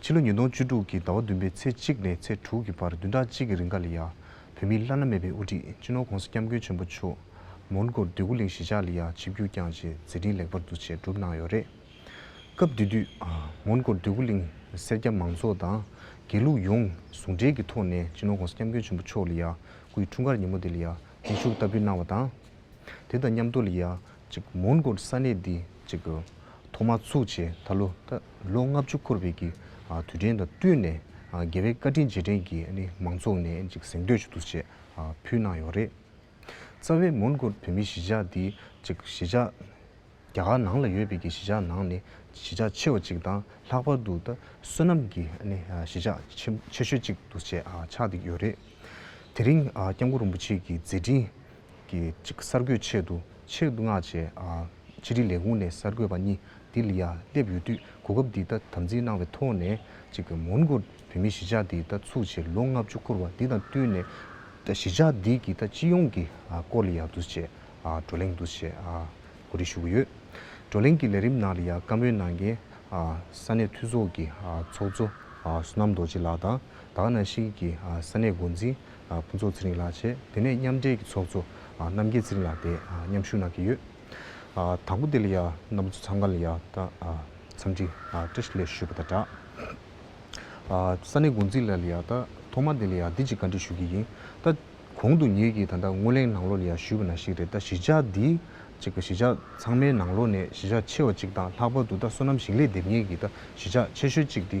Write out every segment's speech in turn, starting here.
ཕྱི་ལོ་ཉིས་སྟོང་བཅུ་དྲུག་གི་ཟླ་བ་བདུན་པའི་ཚེས་གཅིག་ནས་ཚེས་དྲུག་གི་བར་བདུན་ཕྲག་གཅིག་གི་རིང་ཀཱ་ལི་ཡཱ་བོད་མིའི་བླ་ན་མེད་པའི་དབུ་ཁྲིད་སྤྱི་ནོར ྋགོང་ས ྋསྐྱབས་མགོན་ཆེན་པོ་མཆོག་མོན་གྷོར་སྡོད་གུ་ལིང་གཞིས་ཆགས་ལི་ཡཱ་ཆིབས་བསྒྱུར་བསྐྱངས་རྗེས་མཛད་འཕྲིན་ལེགས་པར་འདུ་བྱས་གྲུབ་གནང་ཡོད་རེད། སྐབས་དེ་དུས་མོན་གྷོར་སྡོད་གུ་ལིང་སེར་སྐྱ་མང་ཚོགས་དང་དགེ་ལུགས་ཡོངས་ཟུང་འབྲེལ་གྱི་ཐོག་ནས་སྤྱི་ནོར ྋགོང་ས ྋསྐྱབས་མགོན་ཆེན་པོ་མཆོག་ལི་ཡཱ་སྐུའི་འཁྲུངས་སྐར་ཉིན་མོ་དེ་ལི་ཡཱ་འཛིན་ཤུགས་ལྟ་བུའི་གནང་བ་དང། དེ་དང་མཉམ་དུ་ལི་ཡཱ་མོན་གྷོར་ས་གནས་འདི་ཐོག་མར་ཚུགས་ཆེད་ད་ལོ་ལོ་ལྔ་བཅུ་འཁོར་བའི་དུས་དྲན་དང་བསྟུན་ནས་རྒྱལ་བའི་བཀའ་དྲིན་རྗེས་དྲན་གྱི་མང་ཚོགས་ནས་གཟེངས་བསྟོད་ཞུ་གཏུག་བཅས་ཕུལ་གནང་ཡོད་རེད། རྩ་བའི་མོན་གྷོར་བོད་མིའི་གཞིས་ཆགས་འདི་གཞིས་ཆགས་རྒྱ་གར་ནང་ལ་ཡོད་པའི་གཞིས་ཆགས་ནང་ནས་གཞིས་ཆགས་ཆེ་བ་ཅིག་དང་ལྷག་པར་དུ་བསོད་ནམས་ཀྱི་གཞིས་ཆགས་ཆེ་ཤོས་ཅིག་ཏུ་ཆགས་འདུག་ཡོད་རེད། དེ་རིང ྋསྐྱབས་མགོན་རིན་པོ་ཆེ་གི་མཛད་འཕྲིན། གི་གསར་འགོད་ཆེད་དུ་ཕྱིར་མངགས་རྗེས། ཕྱི་དྲིལ་ལས་ཁུངས་ནས་གསར་འགོད་པ་གཉིས་དི་ལི་ཡ་སླེབས་ཡོད་དུས་གོ་སྐབས་འདི་ལྟ་དམ་འཛིན་གནང་བའི་ཐོག་ནས། མོན་གྷོར་བོད་མིའི་གཞིས་ཆགས་འདི་ལྟ་ཚུགས་ཆེད་ལོ་ལྔ་བཅུ་འཁོར་བ་འདི་དང་བསྟུན་ནས། གཞིས་ཆགས་འདི་གི་སྤྱི་ཡོངས་ཀྱི་སྐོར་ལི་ཡ་འདུ་བྱེད་བགྲོ་གླེང་འདུ་བྱེད་གོ་སྒྲིག་ཞུ་གི་ཡོད། བགྲོ་གླེང་གི་ལས་རིམ་ནང་ལི་ཡ་བཀའ་མོལ་གནང་མཁན་ས་གནས་འཐུས་ཚོགས་ཀྱི་ཚོགས་གཙོ་བསོད་ནམས་རྡོ་རྗེ་ལགས་དང། ད་ག་ནང་ཤིག་གིས་ཀྱི་ས་གནས་འགོ་འཛིན་ཕུན་ཚོགས་ཚེ་རིང་ལགས་བཅས་དེ་ནས་མཉམ་འབྲེལ་གྱི་ཚོགས་གཙོ་རྣམ་རྒྱལ་ཚེ་རིང་ལགས་དེ་མཉམ་ཞུགས་གནང་གི་ཡོད། དང་པོ་དེ་ལ་ཡང་རྣམ་པ་ཚོ་ཚང་ག་ལ་ཡང་འཚམས་འདྲི་བཀྲ་ཤིས་ལེགས་ཞུ་ཞུས་པ་དང་སྦྲགས། ས་གནས་འགོ་འཛིན་ལ་ལ་ཡང་ཐོག་མར་དེ་ལ་ཡང་འདི་གཅིག་བཀའ་འདྲི་ཞུ་གི་ཡིན། གོང་དུ་ངེད་ཀྱིས་ད་ལྟ་སྔོན་གླེང་ནང་ལོགས་ལ་ཡང་ཞུས་པ་ནང་ཞིག་རེད་གཞིས་ཆགས་འདི་གཅིག་གཞིས་ཆགས་ཚང་མའི་ནང་ལོགས་ནས་གཞིས་ཆགས་ཆེ་བ་གཅིག་དང་ལྷག་པར་དུ་ད་བསོད་ནམས་ཞིང་ལས་དེབ་སྙན་གྱི་གཞིས་ཆགས་ཆེ་ཤོས་གཅིག་འདི་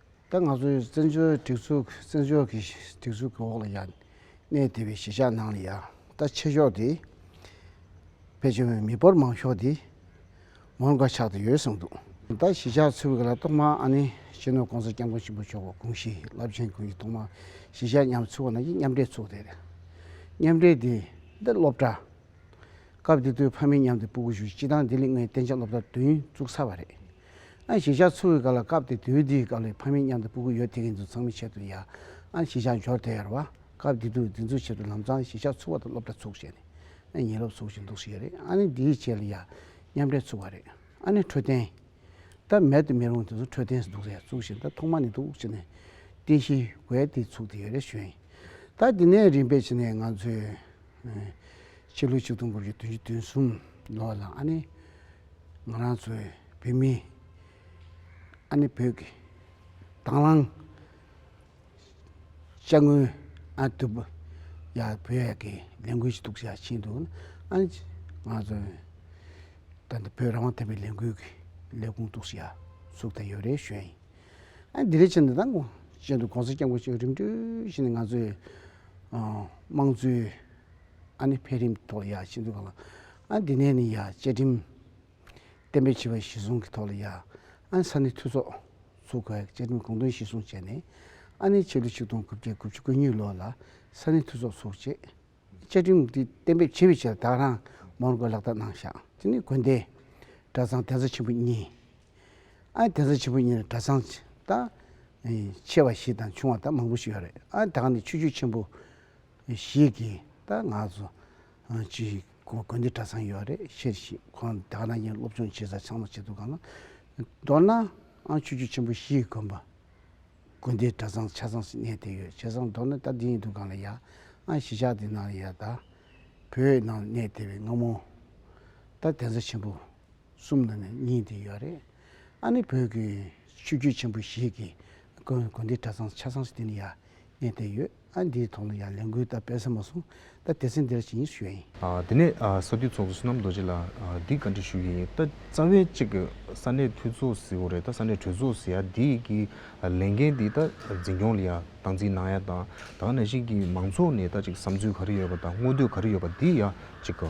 ད་ང་ཚོའི་བཙན་བྱོལ་སྒྲིག་འཛུགས་བཙན་བྱོལ་གྱི་སྒྲིག་འཛུགས་ཀྱི་འོག་ལ་ཡང་གནས་བདེ་བའི་གཞིས་ཆགས་ནང་ལ་ཡང་ད་ཆེ་ཕྱོགས་དེ་བེད་སྤྱོད་མི་འབོར་མང་ཤོས་དེ་མོར་འགའ་ཆགས་དེ་ཡོད་གསུངས་འདུག། ད་གཞིས་ཆགས་ཚུད་ཀྱི་ལ་ཏོག་མ་ཨ་ནེ་སྤྱི་ནོར ྋགོང་ས ྋསྐྱབས་མགོན་ཆེན་པོ་མཆོག ྋགོང་ཞི་རླབས་ཆེན་ཀུན་གྱི་ཐོག་མ་གཞིས་ཆགས་མཉམ་ཚུད་པ་ནང་གི་མཉམ་འབྲེལ་ཚུགས་དེ་རེད། མཉམ་འབྲེལ་དེ་འདི་སློབ་གྲྭ། སྐབས་དེ་དུས་ཕ་མེས་མཉམ་དུ་སྤུ་གུ་བཞུགས་སྤྱི་དང་ལྡི་ལི་ངོས་གཏན་ཆགས་སློབ་གྲྭ་བདུན་བཙུགས་ཚར་བ་རེད། ཨ་ཞེས་ཞག་ཚུགས་ཀྱི་སྐབས་ལ་སྐབས་དེ་དུས་འདིའི་སྐབས་ལས་ཕ་མེས་མཉམ་དུ་སྤུ་གུ་ཡོད་དེ་ཀྱི་འདུག་ཚང་མས་ཆེད་དུ་ཡ། ཨ་ཞེས་ཞག་འབྱོར་དེ་ཡར་བ། སྐབས་འདི་དུས་འདི་ཚོའི་ཆེད་དུ་ལམ་ཚང་ཞེས་ཞག་ཚུགས་བ་དང་སློབ་གྲྭ་ཚུགས་ཞེས་ནི། ཨ་ཉིད་སློབ་ཚུགས་ཞེས་འདུག་ཞེས་རེད་ཨ་ནི་འདིའི་ཆེད་ལ་ཡ། མཉམ་འབྲེལ་ཚུགས་བ་རེད་ཨ་ནི་འཕྲོད་བསྟེན། ད་མེད་དུ་མི་རུང་དེ་ཚོ་འཕྲོད་བསྟེན་ཟེར་འདུག་རེད་ཚུགས་ཞེས་ད་ཐོག་མ་ནས་འདུག་ཅེས་ནི། རྟེན་གཞི། དགོས་དེ་ཚུགས་དེ་ཡོད་རེད་ཞུས། ད་འདི་ནས་རིམ་པས་ཕྱིན་ནས་ང་ཚོས། ཕྱི་ལོ་ཆིག་སྟོང་དགུ་བརྒྱ་དོན་བཞི་དོན་གསུམ་ལོ་ལ་ཨ་ནི་ང་རང་ཚོའི་བོད་མི་ཨ་ནི་བོད་ཀྱི་དྭང་བླངས་དཔྱ་དངུལ་ཨ་ནི་ཐུབ་ཡ་བོད་ཡ་གི་ལས་འགུལ་ཞིག་གཏུགས་བྱ་ཕྱིན་འདུག་ཨ་ནི་ང་ཚོའི་ད་ལྟ་བོད་རང་དབང་ཐོབ་པའི་ལས་འགུལ་གྱི་ལས་ཁུངས་གཏུགས་བྱ་ཚུགས་ཐ་ཡོད་རེ་ཞོལ་ཡིན་ཨ་ནི་དེ་རེ་ཕྱིན་ད་ལྟ་ཅན་དུ་གོང་ས་སྐྱབས་མགོན་ཆེན་པོ་རིམ་བགྲོད་བཞིན་ང་ཚོའི་དམངས་གཙོའི་ཨ་ནི་འཕེལ་རིམ་ཐོག་ལ་ཡ་བྱེད་འདོད་པ་ལ་ཨ་འདི་ནས་ནི་ཡ་བཅའ་ཁྲིམས་གཏན་འབེབས་བྱས་པ་གཞི་བཟུང་གི་ཐོག་ལ་ཡ་ཨ་ནི་ས་གནས་འཐུས་ཚོགས་ཚོགས་ཁག་གིས་བཅའ་ཁྲིམས་དགོངས་དོན་གཞི་བཟུང་བྱས་ནས་ཨ་ནི་ཕྱི་ལོ་ཆིག་སྟོང་དགུ་བརྒྱ་དགུ་བཅུ་དགུ་གཉིས་ལོ་ལ་ས་གནས་འཐུས་ཚོགས་ཚོགས་རྗེས་བཅའ་ཁྲིམས་འདི་གཏན་འབེབས་བྱེད་པའི་ཆེད་ལ་དྭགས་རང་དམག་ནང་སྐོར་ལག་བསྟར་གནང་བཞག་དེ་ནི་དགོན་སྡེ་གྲྭ་ཚང་གདན་ས་ཆེན་པོ་གཉིས་ཨ་དེ་ཚོ་ཆེན་པོ་གཉིས་རེད་གྲྭ་ཚང་དང་ཆེ་བ་བཞི་དང་ཆུང་བ་དང་མང་པོ་ཞིག་ཡོད་རེད་ཨ་ད་ག་ནས་ཆོས་རྒྱུད་ཆེན་པོ་ཞིག་གི་ད་ང་ཚོ་ཅི་དགོན་སྡེ་གྲྭ་ཚང་ཡོད་རེད་ཤེས་རེད་ཤེས་ཁོང་ད་ག་ནང་བཞིན་སློབ་སྦྱོང་བྱེད་ས་ཚང་མ་བྱེད་འདུག་ག་ལ་མདོར་ན་ཨ་ཆོས་རྒྱུད་ཆེན་པོ་བཞི་གི་དགོན་པ་དགོན་སྡེ་གྲྭ་ཚང་ཆ་ཚང་ཞིག་གནས་ཏེ་ཡོད་བྱས་ཙང་མདོར་ན་ད་འདི་ཡིན་འདུག་ག་ལ་ཡ་ཨ་གཞིས་ཆགས་འདི་ནང་ཡ་ད་བོད་ནང་ནས་དེ་བས་སྔ་མོ་ད་དེ་ཚོ་ཆེན་པོ་གསུམ་ནང་ནས་གཉིས་འདི་ཡོད་རེད། ཨ་ནི་བོད་ཀྱི་ཆོས་བརྒྱུད་ཆེན་པོ་ཞིག་གི་དགོན་དགོན་སྡེ་གྲྭ་ཚང་ཆ་ཚང་ཞིག་དེ་ནི་ཡང་གནས་དེ་ཡོད་ཨ་འདིའི་ཐོག་ནས་ཡང་ལས་འགུལ་ད་སྤེལ་ས་མ་སོང་ད་དེ་ཚེ་འདིར་ཇི་སྙེད་ཞུ་ཡ་ཡིན། དེ་ནས་ས་འཐུས་ཚོགས་གཙོ་བསོད་ནམས་རྡོ་རྗེ་ལགས་འདིས་བཀའ་འདྲི་ཞུ་ཡི་ཡིན་ད་རྩ་བའི་གཅིག་གི་ས་གནས་འཐུས་ཚོགས་ཟེར་བ་རེད་ད་ས་གནས་གྲོས་ཚོགས་ཟེར་ཡ་འདི་གི་ལས་འགན་འདི་ད་འཛིན་སྐྱོང་ལ་ཡང་སྟངས་འཛིན་གནང་ཡ་དང་ད་ནང་བཞིན་གྱི་མང་ཚོགས་ནས་ད་ཅིག་བསམ་ཚུལ་ག་རེ་ཡོད་པ་དང་དངོས་འདོད་ག་རེ་ཡོད་པ་འདི་ཡང་གཅིག་གི།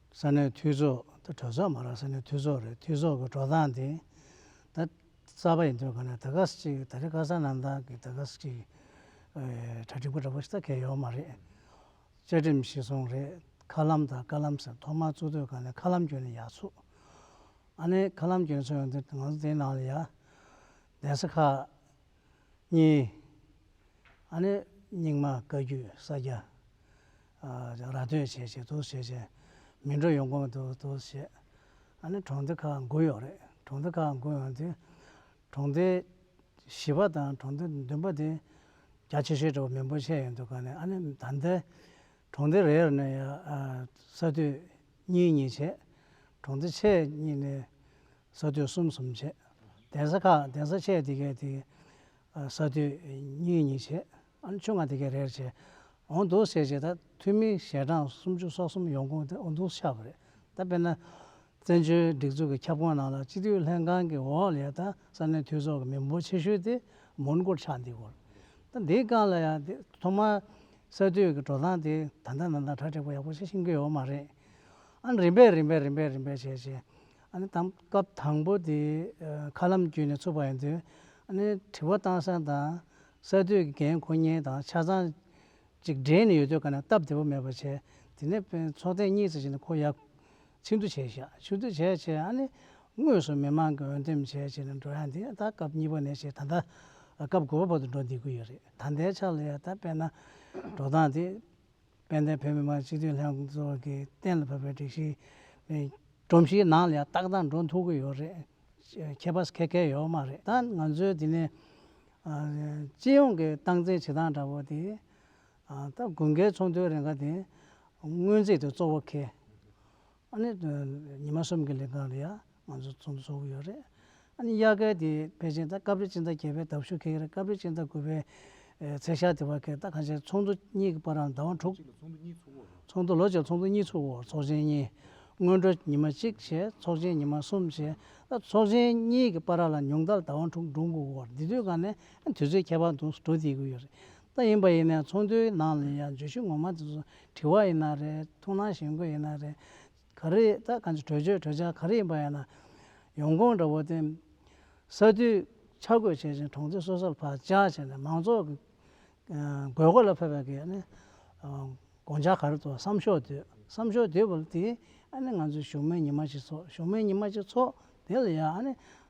ས་གནས་འཐུས་ཚོགས་ད་གྲོས་ཚོགས་མ་རག་ས་གནས་འཐུས་ཚོགས་རེད་འཐུས་ཚོགས་ཀྱི་འགྲོ་སྟངས་དེ་ད་གསར་པ་ཡིན་དུས་ག་ནས་ད་ག་ས་གཅིག་ད་རེས་ཀ་ས་གནང་སྟངས་ཀྱི་ད་ག་ས་གཅིག་གྲ་སྒྲིག་པ་འདྲ་པོ་ཞིག་ད་གས་ཡོག་མ་རེད། བཅའ་ཁྲིམས་ཤིག་སོང་རེད་མཁའ་ལམ་དང་བཀའ་ལམ་ཟེར་ཐོག་མར་བཙུགས་དུས་ག་ནས་མཁའ་ལམ་གྱོན་ནས་ཡག་ཚུགས། ཨ་ནེ་མཁའ་ལམ་གྱོན་ཚུལ་ཡང་འདི་ང་ཚོ་དེའི་ནང་ལ་ཡ། གདན་ས་ཁག་གཉིས། ཨ་ནི་རྙིང་མ་བཀའ་རྒྱུད་ས་སྐྱ། ར་སྟོད་བྱས་བྱས་དུ་བྱས་བྱས། མི་འགྲོ་ཡོང་གོམས་དུ་དུ་བྱས། ཨ་ནི་གྲོང་སྡེ་ཁག་དགུ་ཡོད་རེད། གྲོང་སྡེ་ཁག་དགུ་ཡོད་དེ། གྲོང་སྡེ་བཞི་པ་དང་གྲོང་སྡེ་བདུན་པ་དེ། རྒྱ་ཆེ་ཤོས་གྲོ་མིན་པོ་ཆེ་ཡོད་འདུག་ག་ནས་ཨ་ནི་ད་ལྟའི། གྲོང་སྡེ་རེར་ནི་ཡང་ས་སྡོད་གཉིས་གཉིས་བྱས། གྲོང་སྡེ་ཆེ་གཉིས་ནི། ས་མཐོའི་གསུམ་གསུམ་བྱས། གདན་ས་ཁག་གདན་ས་ཆས་དེ་གའི་དེ། ས་མཐོའི་གཉིས་གཉིས་བྱས། ཨ་ཆུ་ང་དེ་གའི་རེར་བྱས། འོང་འདུག་ཟེར་བྱས་ད་འཐུས་མི་ཞལ་གྲངས་སུམ་ཅུ་སོ་གསུམ་ཡོང་ཁུངས་དེ་འོ་འདུག་ཆགས་པ་རེད་ད་དཔེར་ན། བཙན་བྱོལ་སྒྲིག་འཛུགས་ཀྱི་ཁྱབ་ཁོངས་ནང་ལ་སྤྱི་འཐུས་ལྷན་ཁང་གི་འོག་ལས་ད་ས་གནས་འཐུས་ཚོགས་ཀྱི་མི་འབོར་ཆེ་ཤོས་དེ་མོན་གྷོར་ཆགས་འདི་གོ། ད་འདིའི་སྒང་ལ་ཡང་དེ་ཐོག་མར་ས་མཐོའི་གི་འགྲོ་སྟངས་དེ་ད་ལྟ་ན་ད་གྲ་སྒྲིག་པ་ཡག་པོ་ཤིག་ཤིག་འགྱོད་ཡོད་མ་རེད། ཨ་རིམ་པས་རིམ་པས་རིམ་པས་རིམ་པས་བྱས་བྱས། ཨ་ནི་དང་སྐབས་དང་པོ་དེ་མཁའ་ལམ་བརྒྱུད་ནས་ཚུགས་པ་ཡིན་དུས། ཨ་ནི་དྲི་བ་གཏང་ས་དང་ས་དུས་ཀྱི་འགན་འཁུར་ཉེན་དང་ཆ་ཚང་ཅིག་སྦྲེལ་ནས་ཡོད་དུས་ཀ་ནས་སྟབས་བདེ་པོ་མེད་པར་བྱས། དེ་ནས་དཔོན་ཚོགས་ཐེངས་གཉིས་ཙམ་ཞིག་ནས་ཁོ་ཡར་ཕྱིན་བསྡུ་བྱས་ཤག་ཕྱིན་བསྡུ་བྱས་བྱས་ཨ་ནི་དངོས་སུ་མི་མང་གི་འོས་འདེམས་བྱས་བྱས་ནས་འགྲོ་ཡ་འདི་ད་སྐབས་གཉིས་པ་ནས་བྱས་ད་ལྟ་སྐབས་དགུ་པ་བར་དུ་འགྲོ་འདི་དགོས་ཡོད་རེད་ད་ཟླའི་ཆ་ལ་ཡ་ད་དཔེར་ན་འགྲོ་སྟངས་དེ། དཔལ་ལྡན་བོད་མི་མང་སྤྱི་འཐུས་ལྷན་ཚོགས་ཀྱིས་གཏན་ལ་ཕབ་པའི་སྒྲིག་གཞི་སྒྲོམ་གཞིའི་ནང་ལ་ཡང་ཏག་ཏག་འགྲོ་ཐུབ་ཀྱི་ཡོད་རེད། ཁྱད་པར་ཁ་ཁད་ཡོད་མ་རེད་ད་ང་ཚོའི་དེ་ནས་སྤྱི་ཡོངས་ཀྱི་སྟངས་འཛིན་བྱེད་སྟངས་འདྲ་བོ་དེ་ད་དགུན་ཁའི་ཚོགས་འདུའི་རེ་འགའ་དེ་སྔོན་རྩིས་དེ་གཙོ་བོ་ཁེལ། ཨ་ནི་ཉི་མ་གསུམ་གྱི་ལས་ཀ་རེད་ཡ། ང་ཚོ་ཚོགས་འདུ་ཚོགས་ཀྱི་ཡོད་རེད། ཨ་ནི་དབྱར་སྐལ་དེ་བེད་སྤྱད་ད་སྐབས་རེ་ཕྱི་ཟླ་བརྒྱད་པའི་ཟླ་བཞུ་ཁེག་རེད་སྐབས་རེ་ཕྱི་ཟླ་དགུ་པའི་ཚེས་ཤར་དེ་བར་ཁེག་ད་གང་ཆེ་ཚོགས་འདུ་གཉིས་ཀྱི་པར་རམ་ཟླ་བ་དྲུག། ཚོགས་འདུ་ལོ་བརྒྱད་ཚོགས་འདུ་གཉིས་ཚུགས་འོག་ཚོགས་ཆེན་གཉིས། སྔོན་འགྲོ་ཉི་མ་གཅིག་བྱས་ཚོགས་ཆེན་ཉི་མ་གསུམ་བྱས་ད་ཚོགས་ཆེན་གཉིས་ཀྱི་པར་ར་ལ་ཉུང་མཐར་ཟླ་བ་དྲུག་འགྲོ་འགུག་འོག་འདི་དུས་སྐབས་ནི་ཨ་ནི་དུས་ཚོད་ཁྱད་པར་འདུག་འགྲོ་བསྡད་དགོས་ཀྱི་ཡོད་རེད། ད་ཡིན་པ་ཡིན་ནའི་ཚོགས་འདུའི་ནང་ལ་ཡང་བརྗོད་གཞི་ངོ་མ་དེ་ཚོ་དྲི་བ་ཡིན་ན་རེད་ཐུགས་སྣང་ཞེན་དགོས་ཡིན་ན་རེད། ག་རེ་ད་ག་ཚོད་གྲོས་ཆོད་གྲོས་འཆར་ག་རེ་ཡིན་པ་ཡིན་ན། ཡོང་ཁུངས་འདྲ་བོ་དེ། ས་རྡུལ་ཆ་བགོས་བྱས་ཤིང་གྲོང་ཚོའི་སོ་སོར་བག་ཆགས་བྱས་ནས་མང་ཚོགས་ཀྱི་དགོས་མཁོ་ལ་ཕེབས་པ་དགོས་ནས། དགོངས་འཆར་ག་རེ་ཐོག་བསམ་ཤོག་བསྡུས་བསམ་ཤོག་བསྡུས་པ་དེ་ཨ་ནི་ང་ཚོའི་བཞུགས་མོལ་ཉི་མ་གཅིག་ཚོགས་བཞུགས་མོལ་ཉི་མ་གཅིག་ཚོགས་དེ་ལ་ཡང་ཨ་ནི་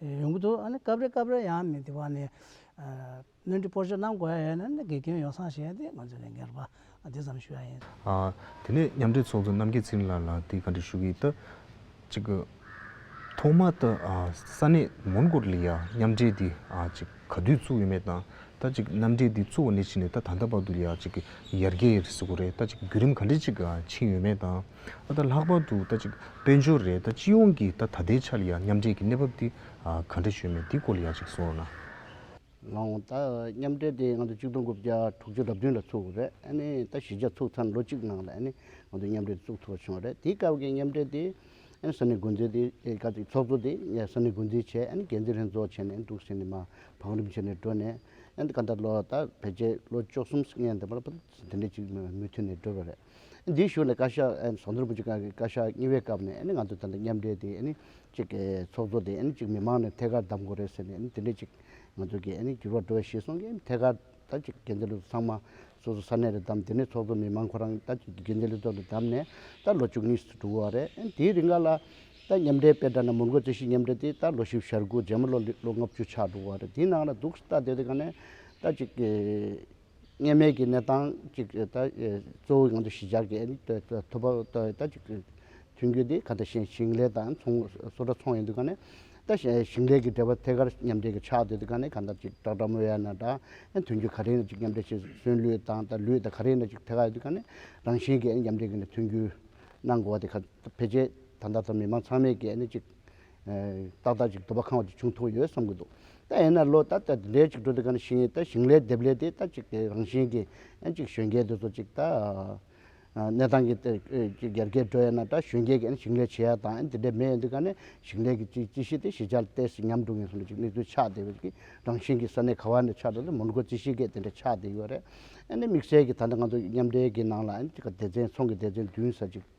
ཡོང་གི་འདུག་ཨ་ནི་སྐབས་རེ་སྐབས་རེ་ཡང་མི་འདི་བ་ནི་སྣོན་འཕྲི་སྤོར་གཅོད་གནང་དགོས་ཡས་ན་ནི་དགེ་སྐྱོན་ཡོང་སང་ཞེས་ཏེ་ང་ཚོས་ལས་འགན་རུ་པ་འདི་ཙམ་ཞུ་ཡ་ཡིན། དེ་ནས་མཉམ་འབྲེལ་ཚོགས་གཙོ་རྣམ་རྒྱལ་ཚེ་རིང་ལགས་ལ་དེ་ག་འདྲི་ཞུ་གི་ད་ཅིག། ཐོག་མ་ད་ས་གནས་མོན་གོར་ལི་ཡ་མཉམ་འབྲེལ་འདི་ཅིག་ག་དུས་བཙུགས་ཡོད་མེད་དང་ད་ཅིག་མཉམ་འབྲེལ་འདི་བཙུགས་བ་ནས་ཕྱིན་ནས་ད་ད་ལྟ་བར་དུ་ཡ་ཅིག་ཡར་རྒྱས་ཟེར་གོ་རེད་ད་ཅིག་བརྒྱུད་རིམ་ག་འདྲི་ཅིག་ཕྱིན་ཡོད་མེད་དང། ཨ་ད་ལྷག་པར་དུ་ད་ཅིག་དཔལ་འབྱོར་རེད་ད་སྤྱི་ཡོངས་ཀྱི་ད་ད་ལྟའི་ཆར་ཡང་མཉམ་འབྲེལ་གྱི་གནས་བབ་འདི་ག་འདྲ་བྱོས་མེད་འདི་སྐོར་ལ་ཡང་ཅིག་གསུང་རོགས་གནང། ལོང་ད་མཉམ་འབྲེལ་དེ་ང་ཚོ་གཅིག་སྟོང་དགུ་བརྒྱ་དྲུག་ཅུ་རབ་བདུན་ལ་ཚུགས་དགོས་རེད་ཨ་ནི་ད་གཞི་རྒྱ་ཚུགས་ཚར་ལོ་གཅིག་ནང་ལ་ཨ་ནི་ང་ཚོ་མཉམ་འབྲེལ་བཙུགས་ཐུབ་པ་བྱུང་བ་རེད་དེའི་སྐབས་ཀྱི་མཉམ་འབྲེལ་དེ་ཨ་ནི་ས་གནས་འགོ་འཛིན་དེ་སྐབས་ཀྱི་ཚོགས་གཙོ་དེ་ས་གནས་འགོ་འཛིན་བྱས་ཨ་ནི་འགན་འཛིན་ལྷན་ཚོགས་བྱས་ནས་འདུག་ཟེར་ནས་མ་བང་རིམ་བྱས་ནས་འགྲོ་ནས་ཨ་ནི་ད་ལྟ་ལོ་ད་བེད་སྤྱད་ལོ་བཅོ་གསུམ་ཨ་ནི་ད་ལོ་ད་དེ་འདྲ་ཅིག་མུས་མཐུད་ནས་འགྲོ་བ་རེད། འདིའི་གཞུག་ནས་བཀའ་ཤག་ཟུང་འབྲེལ་པུའུ་ཅི་ག་གི་བཀའ་ཤག་གཉིས་པའི་སྐབས་ནས་ང་ཚོ་དེ་འདྲ་མཉམ་འབྲེལ་དེ་གཅིག་ཚོགས་གཙོ་དེ་གཅིག་མི་མང་ནས་ཐད་ཀར་བདམས་དགོས་རེད་ཟེར་ནས་དེ་འདྲའི་གཅིག་ང་ཚོ་གི་འགྱུར་བ་འགྲོ་བའི་གཞི་བཟུང་གི་ཐད་ཀར་ད་ཅིག་དགེ་འདུན་ལྷན་ཚོགས་ཚང་མ་སོ་སོ་ས་གནས་རེ་བདམས་དེ་ནས་ཚོགས་གཙོ་མི་མང་ཁོ་རང་ད་ཅིག་དགེ་འདུན་ལྷན་ཚོགས་དེ་བདམས་ནས་ད་ལོ་བཅུ་གཉིས་སུ་གྲུབ་བ་རེད་དེའི་རིང་ག་ལ་ད་མཉམ་འབྲེལ་དཔེ་དྲ་ན་མུར་འགོད་རྩོད་གཞི་མཉམ་འབྲེལ་དེ་ད་ལོ་བཞི་བཞི་ཧྲག་གོ་རྗེས་མ་ལོ་ལོ་ལྔ་བཅུ་ཆགས་འགྲོ་བ་རེད་དེའི་ནང་ལ་འདུག་ད་དེ་དེ་ག་ནས་ད་ཅིག་གི། ངེས་མེད་ཀྱི་གནས་སྟངས་ཅིག་གཙོ་བོའི་ངང་དུ་ཞི་འཇགས་ཀྱི་ཐུབ་པ་ཐོན་རྒྱུ་དེ་ག་ལྟ་བཞིན་ཞིང་ལས་དང་གསོ་དྲ་ཚོང་ཡོད་འདུག་ག་ནས་ད་ཞིང་ལས་ཀྱི་འབྲེལ་བ་ཐད་ཀར་མཉམ་འབྲེལ་གྱི་ཆགས་སྡོད་དེ་ག་ནས་ག་འདྲ་ཅིག་སྦྲག་སྦྲག་མོ་ཡ་ན་འདྲ་དོན་རྒྱུ་ག་རེ་ན་ཅིག་མཉམ་འབྲེལ་བྱེད་སོན་ལུས་དང་ད་ལུས་དང་ག་རེ་ན་ཅིག་ཐད་ཀར་ཡོད་འདུག་ག་ནས་རང་བཞིན་གྱི་མཉམ་འབྲེལ་གྱི་ཐོན་རྒྱུ་གནང་དགོས་པ་དེ་ག་ཕལ་ཆེར་ད་ལྟ་ད་མི་མང་ཚང་མས་ཀྱི་ཅིག། ཏག་ཏག་ཅིག་དུ་བ་ཁང་བ་དེ་བྱུང་ཐུབ་ཡོད་བསམ་གྱི་འདུག་ད་ཡིན་ན་ལོ་ད་ལྟ་འདྲེ་གཅིག་འགྲོ་དུས་གང་ཞིང་ད་ཞིང་ལས་འདེབས་ལས་དེ་ད་ཅིག་དེ་རང་བཞིན་གྱིས་ཨེན་ཅིག་གཞོན་སྐྱེས་དེ་ཚོ་ཅིག་ད་གནས་སྟངས་ཀྱི་དེར་ཅིག་ཡར་རྒྱས་འགྲོ་ཡས་ན་ད་གཞོན་སྐྱེས་ཀྱི་ཨེན་ཞིང་ལས་བྱེད་ཡ་དང་ཨེན་དེ་འདྲས་མེད་ཡོད་འདུག་ག་ནས་ཞིང་ལས་ཀྱི་ཅིག་ཅི་ཞིག་དེ་ཞི་ཆགས་ཏེ་སི་ཉམས་འགྲོ་གིན་སོང་ནས་ཅིག་དམིགས་བསལ་ཆགས་དེ་བས་ཀྱི་རང་བཞིན་གྱིས་ས་གནས་ག་བ་ནས་ཆགས་འགྲོ་དེ་མོན་གྷོ་ཅི་ཞིག་གས་དེ་འདྲས་ཆགས་དེ་ཡོད་རེད་ཨེ་ནས་དམིགས་བསལ་གྱི་ད་ལྟ་ང་ཚོ་མཉམ་འབྲེལ་གྱི་ནང་ལ་ཨེན་ཅིག་ག་སྡེ་ཚན་ཚོང་གི་སྡེ་ཚན་བདུན་ས་ཅིག།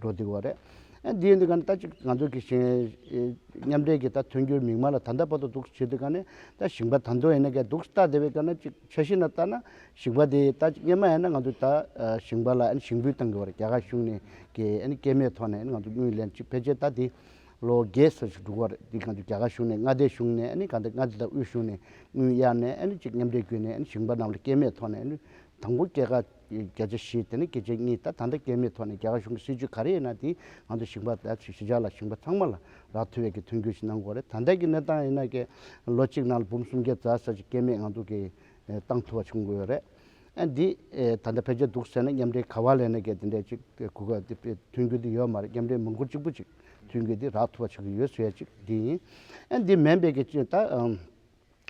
འགྲོ་འདུག་བ་རེད། ཨ་འདིའི་འདི་ག་ནི་ད་ཅིག་ང་ཚོ་གི་མཉམ་འབྲེལ་གྱི་ད་དོན་འགྱུར་མིག་མངས་ལ་ད་ལྟ་བར་དུ་འདུག་བྱེད་དུ་ག་ནི་ད་ཞིང་པ་ད་འདོ་ཡེ་ནས་ག་འདུག་ལྟ་དེ་བས་ཀ་ནི་ཅིག་ཆ་ཤི་ན་ལྟ་ན་ཞིང་པ་དེ་ད་ཅིག་གཉེན་མ་ཡེ་ན་ང་ཚོ་ད་ཞིང་པ་ལ་ཞིང་འབུད་གཏང་གི་བ་རེད་རྒྱ་གར་གཞུང་ནས་གི་ཨ་ནི་སྐྱེད་མེད་ཐོག་ནས་ཨ་ནི་ང་ཚོ་དངུལ་ལེན་ཅིག་ཕལ་ཆེར་ད་དེ་ལོ་བརྒྱད་སོ་ཞིག་འགྲུག་བ་རེད་འདི་ང་ཚོ་རྒྱ་གར་གཞུང་ནས་མངའ་སྡེ་གཞུང་ནས་ཨ་ནི་ག་འདི་མངའ་སྡེ་དང་དབུས་གཞུང་ནས་དངུལ་གཡར་ནས་ཨ་ནི་ཅིག་མཉམ་འབྲེལ་བརྒྱུད་ནས་ཨ་ནི་ཞིང་པ་རྣམས་ལ་སྐྱེད་མེད་ཐོག་ནས་ཨ་ནི་དང་པོ་སྐྱེད་ཀ་བརྒྱ་ཆ་བཞི་དེ་ནི་བརྒྱ་ཆའི་གཉིས་ད་ད་འདྲ་སྐྱེ་མེད་ཐོག་ནས་རྒྱ་གར་གཞུང་གི་སྲིད་བྱུས་ག་རེ་ཡིན་ན་དེ་ང་ཚོ་ཞིང་པ་བལ་ཚོས་ཞི་འཇགས་ལ་ཞིང་པ་ཚང་མ་ལ་རག་མཐུ་བས་ཀྱི་མཐུན་འགྱུར་ཞིག་གནང་དགོས་རེད་ད་ལྟའི་གི་གནས་སྟངས་ཡིན་ན་ཀྱེ་ལོ་གཅིག་ནང་ལ་འབུམ་སུམ་བརྒྱ་རྩ་ས་ཅིག་སྐྱེ་མེད་ང་ཚོ་གི་བཏང་ཐུབ་པ་བྱུང་དགོས་རེད་ཨ་འདི་ད་ལྟ་ཕལ་ཆེར་འདུག་ཟེར་ན་མཉམ་འབྲེལ་ག་བ་ལས་ན་ཀྱེ་དེ་འདྲས་ཅིག་གུ་ག་དེ་མཐུན་འགྱུར་དེ་ཡོད་མ་རེད་མཉམ་འབྲེལ་མུ་འཁོར་གཅིག་པུ་ཅིག་མཐུན་འགྱུར་དེ་རག་ཐུབ་པ་ཆགས་ཀྱི་ཡོད་ཟེར་ཡ་ཅིག་འདི་ཡིན་ཨ་འདི་མེད་པས་ཀྱི་ཅིག་ད།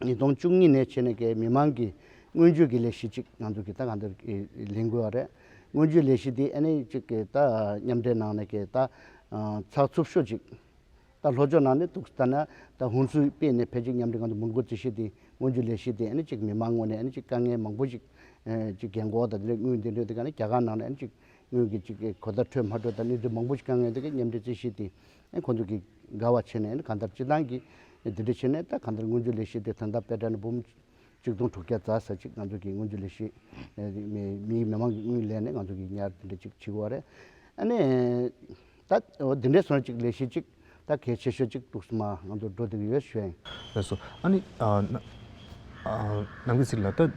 ཉིས་སྟོང་བཅུ་གཉིས་ནས་ཕྱི་ནས་ཀྱི་མི་མང་གིས་སྔོན་ཇུས་ཀྱི་ལས་གཞི་གཅིག་ང་ཚོར་གྱི་ད་ག་འདིར་ལེན་དགོས་བ་རེད། སྔོན་ཇུས་ལས་གཞི་འདི་ཨ་ནེ་གཅིག་གི་ད་མཉམ་འབྲེལ་ནང་ནས་ཀྱི་ད་ཚགས་ཚུབ་ཤོས་གཅིག་ད་ལྷོ་ཕྱོགས་ནང་ནས་ཐུགས་ད་ན་ད་ཧུན་སུའུ་དཔེ་ནས་ཕལ་ཆེར་མཉམ་འབྲེལ་ང་ཚོ་མུར་འགོ་རྩིས་གཞི་འདི་སྔོན་ཇུས་ལས་གཞི་འདི་ཨ་ནེ་གཅིག་མི་མང་ངོ་ནས་ཨ་ནེ་གཅིག་དཀའ་ངལ་མང་པོ་ཞིག་གཅིག་གྱེན་འགོག་ད་དེ་ལས་དངུལ་འདི་འདྲ་དེ་ག་ནི་རྒྱ་གར་ནང་ནས་ཨ་ནེ་གཅིག་དངུལ་གྱི་གཅིག་གི་གོ་ད་འཕྲོད་མ་འཕྲོད་ད་ནི་འདི་མང་པོ་ཞིག་དཀའ་ངལ་འདི་ག་མཉམ་འབྲེལ་རྩིས་གཞི་འདི་ཁོ་ཚོ་གིས་དགའ་བ་བྱས་ནས་གང་ལྟར་སྤྱི་བཏང་གིས་དེ་འདྲ་བྱས་ནས་ད་གང་ལྟར་སྔོན་རྗོད་ལས་བྱེད་དེ་ཐོན་ཐབས་པད་སྒྲ་ནི་འབུམ་གཅིག་སྟོང་དྲུག་བརྒྱ་རྩ་ཟེར་ཅིག་ང་ཚོ་གིས་སྔོན་རྗོད་ལས་བྱེད་མིའི་མི་མང་གི་དངུལ་ལེན་ནས་ང་ཚོ་གིས་ཉར་དེ་འདྲ་ཅིག་བྱེད་དགོས་བ་རེད། ཨ་ནི། ད་འདི་འདྲའི་སོན་ཅིག་ལས་བྱེད་ཅིག་ད་གལ་ཆེ་ཤོས་ཅིག་ཏུགས་སུ་མ་ང་ཚོར་འགྲོ་བསྡད་ཀྱི་ཡོད་བྱས། ཨ་ནི། ནང་གི་ཚིག་ལ་ལྟ།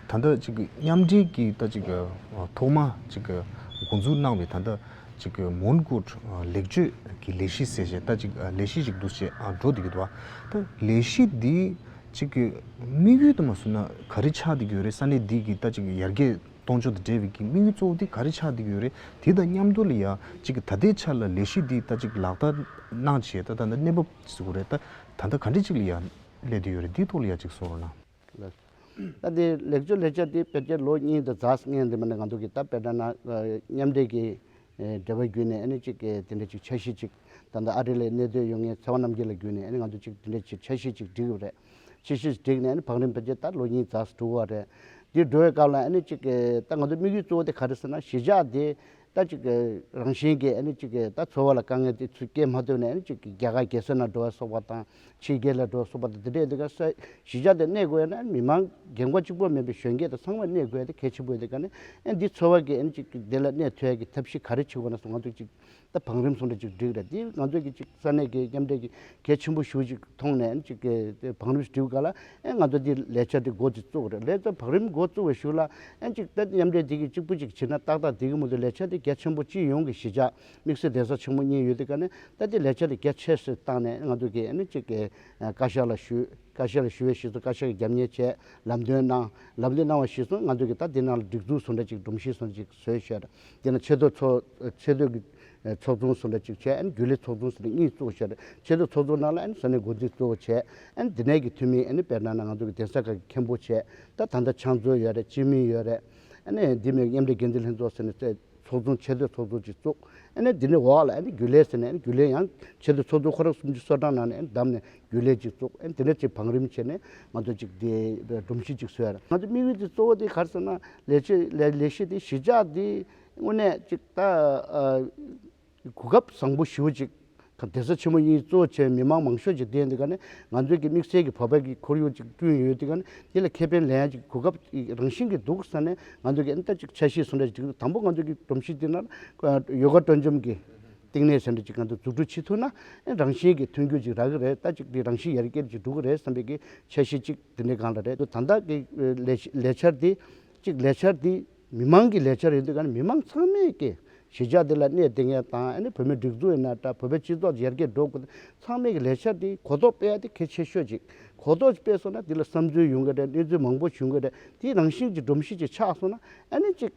ད་ལྟ་ཅིག་མཉམ་འབྲེལ་གྱི་ལྟ་ཅིག་ཐོག་མ་ཅིག་འགོ་འཛུགས་གནང་བའི་ད་ལྟ་ཅིག་མོན་གྷོ་ལེགས་བཅོས་ཀྱི་ལས་གཞི་ཟེར་བཞིན་ལྟ་ཅིག་ལས་གཞི་ཞིག་འདུག་ཅེས་བགྲོ་བསྡད་ཡོད་པ། ད་ལས་གཞི་འདི་ཅིག་དམིགས་ཡུལ་དུ་མ་ཟུར་ན་ག་རེ་ཆགས་འདི་གི་ཡོད་རེད་ས་གནས་འདི་གི་ལྟ་ཅིག་ཡར་རྒྱས་གཏོང་ཕྱོགས་དང་འབྲེལ་བའི་གི་དམིགས་ཡུལ་གཙོ་བོ་འདི་ག་རེ་ཆགས་འདི་གི་ཡོད་རེད་དེ་དང་མཉམ་དུ་ལ་ཡང་ཅིག་ད་ལྟའི་ཆར་ལ་ལས་གཞི་འདི་ལྟ་ཅིག་ལག་བསྟར་གནང་བྱས་ད་ད་ལྟ་གནས་བབ་ཟེར་དགོས་རེད་ད་ད་ལྟ་ག་འདྲ་ཅིག་ལ་ཡང། ལས་དུས་ཡོད་རེད་འདིའི་ཐོག་ལ་ཡ་གཅིག་གསུངས་རོགས་གནང། ལས། ད་འདིའི་ལེགས་བཅོས་ལེགས་ཆ་དེ་བེད་སྤྱད་ལོ་གཉིས་དང་གཟའ་ལྔའི་འདི་མ་ནས་ང་ཚོ་གིས་ད་བེད་སྒྲ་ན་མཉམ་འདྲེས་ཀྱི་འབྲེལ་བ་བརྒྱུད་ནས་ཨ་ནི་ཅིག་དེ་འདྲ་ཅིག་འཆར་གཞི་ཅིག་ད་ལྟ་ཨ་རི་ལའི་གནས་སྡོད་ཡོད་ངེས་ཚེ་དབང་རྣམ་རྒྱལ་ལ་བརྒྱུད་ནས་ཨ་ནི་ང་ཚོ་ཅིག་དེ་འདྲ་ཅིག་འཆར་གཞི་ཅིག་བསྒྲིགས་ཡོད་རེད། འཆར་གཞི་བསྒྲིགས་ནས་ཨ་ནི་བང་རིམ་བེད་སྤྱད་ད་ལོ་གཉིས་གཟའ་དྲུག་བར་རེད། འདི་འགྲོ་བའི་སྐབས་ལ་ཨ་ནི་ཅིག་ད་ང་ཚོའི་དམིགས་ཡུལ་གཙོ་བོ་དེ་ག་རེ་ཟེར་ན་གཞིས་ཆགས་དེ་ད་གཅིག་གི་རང་བཞིན་གྱི་གཅིག་གི་ད་འཚོ་བ་ལ་དཀའ་ངལ་དེ་ཚུལ་སྐྱེལ་མ་ཐུབ་ནས་གཅིག་གི་རྒྱ་གར་གྱེས་སོན་ལ་འགྲོ་བ་སོགས་པ་དང་ཕྱི་རྒྱལ་ལ་འགྲོ་བ་སོགས་པ་དང་དེ་འདྲས་དེ་ག་ས་གཞི་ཆགས་ཏེ་གནས་དགོས་ཡོད་ན་མི་མང་རྒན་འཁོགས་གཅིག་པོ་མིན་པའི་གཞོན་སྐྱེས་དང་ཚང་མས་གནས་དགོས་ཡོད་དེ་གལ་ཆེན་པོ་དེ་ག་ནི་འདི་འཚོ་བ་གྱི་གཅིག་གི་འདི་ལ་གནས་ཐུ་ཡ་གྱི་ཐབས་ཤེས་ག་རེ་བྱེད་དགོས་ན་སོགས་ང་ཚོས་གཅིག་ད་བང་རིམ་སོང་ནས་གཅིག་བསྒྲིགས་རེད་འདི་ང་ཚོས་གཅིག་ས་གནས་ཀྱི་མཉམ་འབྲེལ་གྱི་གལ་ཆེན་པོ་ཞུ་གཅིག་མཐོང་ནས་གཅིག་གི་བང་རིམ་ཞིག་བསྒྲིགས་དགོས་ག་ལ། ཨེ་ང་ཚོ་འདི་ལས་འཆར་འདི་མགོ་འདི་བཙུགས་རེད་ལས་འཆར་བག་རིམ་མགོ་བཙུགས་བའི་ཞུ་ལ་ཨེ་གཅིག་དཔེ་མཉམ་འབྲེལ་འདི་གི་གཅིག་པུ་གཅིག་བྱེད་ན་ཏག་ཏག་འདི་གི་མུ་འདི་ལས་འཆར་འདི་གལ་ཆེན་པོ་སྤྱི་ཡོངས་ཀྱི་གཞིས་ཆགས་དམིགས་བསལ་གདན་ས་ཆེན་མོ་གཉིས་ཡོད་འདི་ག་ནས་ཏག་འདི་ལས་འཆར་འདི་གལ་ཆེ་སེ་བཏང་ནས་ཨེ་ང་ཚོ་གིས་ཨེ་ནི་གཅིག་གི་བཀའ་ཤག་ལ་ཞུས་བཀའ་ཤག་ལ་ཞུས་བའི་གཞིས་ཚོ་བཀའ་ཤག་གིས་རྒྱབ་གཉེར་བྱས་ལམ་སྟོན་གནང་ལམ་སྟོན་གནང་བ་གཞིས་ཚོ་ང་ཚོ་གིས་ཏག་འདི་ནང་ལ་སྒྲིག་འཛུགས་བཟོ་འདྲ་གཅིག་སྒྲོམ་གཞི་བཟོ་འདྲ་གཅིག་བཟོས་བཤད་ད་འདི་ན་ཆེ་བསྟོད་ཚོ་ཆེ་བསྟོད་ཀྱི། ཚོགས་ཆུང་སུ་ལ་གཅིག་བྱས་རྒྱུ་ལས་ཚོགས་ཆུང་སུ་ལ་གཉིས་བཙུགས་ཕྱིར་ཕྱི་དྲོ་ཚོགས་ཆུང་ནང་ལ་ས་གནས་འགོ་འཛིན་གཙོ་བོ་བྱས། འདི་ནས་ཀྱི་འཐུས་མིས་དཔེར་ན་ན་ང་ཚོ་གི་གདན་ས་ཁག་གི་མཁན་པོ་བྱས་ད་ད་ལྟ་ཕྱག་མཛོད་ཡོད་རེད་སྤྱི་མིང་ཡོད་རེད། འདི་མི་མཉམ་འབྲེལ་འགན་འཛིན་ལྷན་ཚོགས་ཟེར་ནས་བཙལ་ཚོགས་ཆུང་ཆེ་བསྟོད་ཚོགས་ཆུང་གཅིག་བཙུགས། འདི་ནས་འོག་ལ་རྒྱུ་ལས་ཟེར་ནས་རྒྱུ་ལས་ཡང་ཆེ་བསྟོད་ཚོགས་ཆུང་ཁོ་རང་སུམ་ཅུ་སོ་གྲངས་ནང་ནས་བདམས་ནས་རྒྱུ་ལས་གཅིག་བཙུགས། འདི་ནས་གཅིག་བང་རིམ་བྱས་ནས་ང་ཚོ་གཅིག་དེ་སྒྲོམ་གཞི་གཅིག་བཟོས། ང་ཚོ་དམིགས་ཡུལ་དེ་གཙོ་བོ་དེ་ག་རེ་ཟེར་ན་ལས་བྱེད་ལས་བྱེད་དེ་གཞིས་ཆགས་དེ་དངོས་གནས་ཅིག་ད་གོ་སྐབས་བཟང་པོ་ཞུ་ཅིག་དེ་ཚོ་ཆེན་མོ་གཉིས་གཙོ་བྱས་མི་མང་མང་ཤོས་ཀྱི་སྟེང་དེ་ག་ནི་ང་ཚོས་ཀྱི་དམིགས་བསལ་གྱི་བག་ཕེབས་ཀྱི་ཁོར་ཡུག་ཅིག་བསྐྲུན་ཡོད་དེ་ག་ནི་དེ་ལ་ཁེ་ཕན་ལེན་ཅིག་གོ་སྐབས་རང་བཞིན་གྱི་འདུག་ས་ནས་ང་ཚོས་ཀྱི་ཨིན་ད་ཅིག་ཆ་ཤས་སུ་འདྲ་ཅིག་དང་པོ་ང་ཚོས་ཀྱི་སྒྲོམ་གཞི་དེ་ན་ཡོ་ག་སྤྲོ་འཇོམས་ཀྱི་སྟེང་ནས་ས་འདྲ་ཅིག་ང་ཚོས་འཛུགས་སྐྲུན་བྱེད་ཐུབ་ན་ཨིན་རང་བཞིན་གྱི་མཐུན་འགྱུར་ཅིག་རག་གི་རེད་ད་ཅིག་དེ་རང་བཞིན་ཡར་རྒྱས་ཅིག་འགྲོ་གི་རེད་བསམ་པའི་ཀྱི་ཆ་ཤས་ཅིག་དེ་འདྲའི་སྒང་ལ་རེད་ད་ད་ལྟ་གི་ལས་འཆར་དེ་ཅིག་ལས་འཆར་དེ། མི་མང་གི་ལས་འཆར་ཡིན་དུས་མི་མང་ཚང་མས་ཀྱི་གཞིས་ཆགས་འདི་ལ་གནས་བདེ་ངེས་དང་བོད་མི་སྒྲིག་འཛུགས་ཡིན་ན་འདྲ་བོད་པའི་སྤྱི་ཚོགས་ཡར་རྒྱས་འགྲོ་དགོས་ཚང་མས་ཀྱི་ལས་འཆར་འདི་གོ་རྟོགས་སྤེལ་ཡ་དེ་གལ་ཆེ་ཤོས་ཅིག་གོ་རྟོགས་སྤེལ་སོང་ན་འདི་ལ་བསམ་ཚུལ་ཡོང་གི་རེད་གནས་ཚུལ་མང་པོ་བྱུང་གི་རེད་དེའི་རང་བཞིན་གྱི་སྒྲོམ་གཞི་ཅིག་ཆགས་སོང་ན་ཨ་ནི་ཅིག་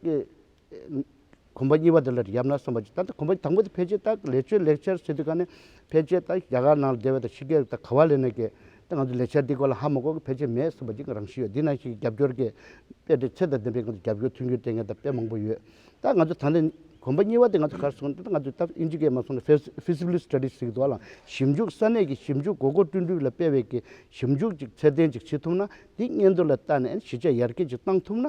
གོམ་པ་གཉིས་པ་དེ་ལ་ཡབ་ན་བསམ་པ་ཅིག་ད་ལྟ་གོམ་པ་དང་པོ་དེ་ཕལ་ཆེར་ད་ལས་ཆོད་ལེགས་ཆར་ཟེར་དུས་ཀ་ནས་ཕལ་ཆེར་ད་རྒྱ་གར་ནང་ལ་སྡེ་བ་དང་ཕྱི་རྒྱལ་དང་ག་བ་ལས་ནས་ཀྱི་ད་ང་ཚོ་ལས་འཆར་འདིའི་སྐོར་ལ་ཧ་མ་གོ་གི་ཕལ་ཆེར་མེད་བསམ་པ་ཅིག་རང་བཞིན་ཡོད། འདི་ནང་བཞིན་གྱི་རྒྱབ་སྐྱོར་གྱི་དཔེ་དེ་ཚད་དང་ལྡན་པའི་ངང་དུ་རྒྱབ་སྐྱོར་མཐུན་འགྱུར་ལྟས་ངན་དང་དཔེ་མང་པོ་ཡོད། ད་ང་ཚོ་ད་ལྟ་གོམ་པ་གཉིས་པ་དེ་ང་ཚོ་གར་སོང་ད་ང་ཚོས་ད་ཨིན་ཇི་སྐད་མ་སོང་ན Feasibility Studies ཞིག་གི་ཐོག་ལ་ཞིབ་འཇུག་ས་གནས་ཀྱི་ཞིབ་འཇུག་མགོ་སྐོར་བསྐྲུན་འཁྲུལ་ལ་སྤེལ་བའི་གི་ཞིབ་འཇུག་ཅིག་ཚད་ལྡན་ཅིག་བྱེད་ཐུབ་ན་འདི་སྙན་ཐོ་ལ་བལྟ་ནས་གཞི་ཆགས་ཡར་རྒྱས་ཅིག་གཏང་ཐུབ་ན་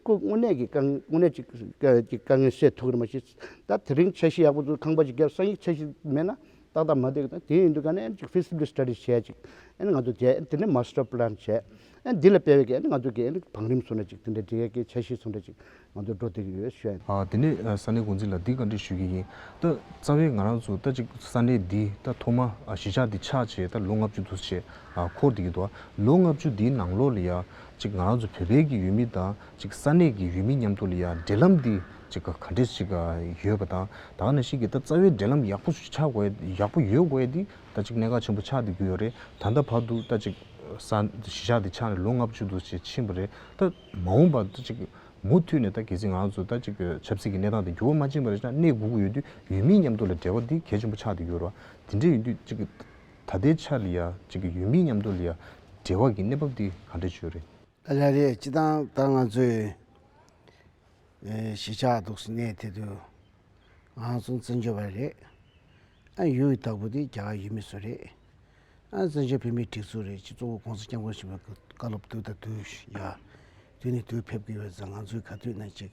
ཁོས་དངོས་གནས་ཀྱི་དངོས་གནས་ཀྱི་དཀའ་ངལ་སེལ་ཐུབ་ཀྱི་རེད་མ་གཞི་ད་དེ་རིང་འཆར་གཞི་ཡག་པོ་ཁང་པ་ཅིག་བརྒྱབ་ས་ཡིག་འཆར་གཞི་མེད་ན། ཏག་ཏག་མ་འདེགས་ན་དེ་ཡིན་དུས་ཀ་ནས་ཅིག Feasibility Study བྱས་ཅིག་ཨ་ནི་ང་ཚོ་བྱས་དེ་ནས Master Plan བྱས་ཨ་འདི་ལ་སྤེལ་བའི་གེ་ཨ་ནི་ང་ཚོ་གེ་ཨ་ནི་བང་རིམ་སོ་ན་ཅིག་དེ་འདྲའི་འདི་གེ་གེ་བྱས་ཤིག་སོ་ན་ཅིག་ང་ཚོ་འགྲོ་བདེ་གི་ཡོད་བཤད། དེ་ནས་ས་གནས་འགོ་འཛིན་ལ་འདི་ག་འདྲི་ཞུས་ཀྱི་ཡིན་ད་རྩ་བའི་ང་རང་ཚོ་ད་ཅིག་ས་གནས་འདི་ད་ཐོག་མ་གཞིས་ཆགས་འདི་ཆགས་བྱས་ད་ལོ་ལྔ་བཅུ་དུ་བྱས་འཁོར་འདི་གི་འདུག་ལོ་ལྔ་བཅུ་འདིའི་ནང་ལོགས་ལ་ཡ་ཅིག་ང་རང་ཚོ་བོད་པའི་གི་ཡུལ་མི་དང་ཅིག་ས་གནས་ཀྱི་ཡུལ་མི་མཉམ་དུ་ལ་ཡང་འབྲེལ་ལམ་འདི་ཅིག་ག་འདྲས་ཤིག་ཡོད་པ་དང་ད་ག་ནས་ཤིག་གིས་ད་རྩ་བའི་འབྲེལ་ལམ་ཡག་པོ་ཆགས་དགོས་ཡག་པོ་ཡོད་དགོས་འདི་ད་ཅིག་གནད་འགག་ཆེན་པོ་ཆགས་འདི་དགོས་ཡོད་རེད་ད་ད་བར་དུ་ད་ཅིག་ས་གཞི་ཆགས་འདི་ཆགས་ནས་ལོ་ལྔ་བཅུ་དུ་ཅིག་ཕྱིན་པ་རེད་ད་མ་འོངས་པ་ད་ཅིག་མུ་མཐུད་ནས་ད་གལ་སྲིད་ང་ཚོ་ད་ཅིག་ཆབ་སྲིད་ཀྱི་གནས་སྟངས་འདི་འགྱུར་བ་མ་ཕྱིན་པ་རེད་ད་གནས་སྒུག་གི་ཡོད་དུས་ཡུལ་མི་མཉམ་དུ་ལ་འབྲེལ་བ་འདི་གལ་ཆེན་པོ་ཆགས་འདི་དགོས་རེད་འདི་འདྲས་ཡོད་དུས་ཅིག་ད་ལྟའི་ཆར་ལ་ཡང་ཅིག་ཡུལ་མི་མཉམ་དུ་ལ་ཡང་འབྲེལ་བ་གི་གནས་བབ་འདི་ག་འདྲས་ཆོད་རེད། རེད་རེད་སྤྱི་བཏང་ལྟར་ང་ཚོས་གཞིས་ཆགས་འདུག་ས་གནས་དེ་དུ་ང་ཚོ་བཙན་བྱོལ་བ་རེད་ཨ་ཡུ་ཡི་བདག་པོ་དེ་རྒྱ་གར་ཡུལ་མི་ཚོ་རེད་ཨ་བཙན་བྱོལ་བོད་མིའི་སྒྲིག་འཛུགས་རེད་སྤྱི་གཙུག་གི ྋགོང་ས ྋསྐྱབས་མགོན་ཆེན་པོའི་བཀའ་སློབ་དུས་དང་དུས་ཡ་དུས་ནས་དུས་ཕེབས་ཀྱི་ཡོད་ཙང་ང་ཚོས་ག་དུས་ན་ཅིག་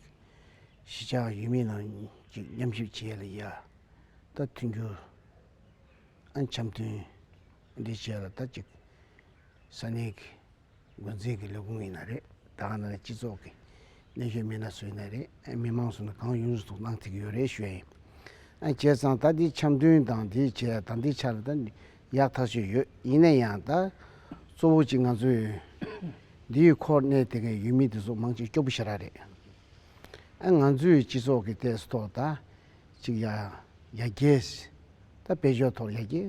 གཞིས་ཆགས་ཡུལ་མི་རྣམས་ཀྱིས་མཉམ་ཞིབ་བྱས་ལ་ཡ་ད་མཐུན་འགྱུར་ཨ་འཆམ་མཐུན་འདི་བྱས་ལ་ད་ཅིག་ས་གནས་ཀྱི་འགོ་འཛིན་གྱི་ལས་ཁུངས་ཡིན་ན་རེད་ད་ག་ནང་གི་སྤྱི་ཚོགས་ཀྱི་གནད་ཤོད་མི་སྣ་སུ་ཡིན་ན་རེད་མི་མང་སུ་ནི་གང་ཡོང་ཟུག་གནང་ཐུབ་ཀྱི་ཡོད་རེད་ཞུ་ཡ་ཡིན། བྱས་ཙང་ད་དེ་འཆམ་མཐུན་དང་དེ་བྱས་ད་འདི་ཆ་ལ་ད་ཡག་ཐག་ཆོད་ཡོད་ཡིན་ན་ཡང་ད་གཙོ་བོ་གཅིག་ང་ཚོས་འདི་ཡི་ཁོར་གནས་དེ་གའི་ཡུལ་མི་དེ་ཚོ་མང་ཅིག་སྐྱོ་པོ་ཤ་ར་རེད། ང་ཚོས་སྤྱི་ཚོགས་ཀྱི་ཐད་སུ་ཐོག་ད་གཅིག་ཡ་རྒྱལ། ད་དཔལ་འབྱོར་ཐོག་ཡ་རྒྱལ།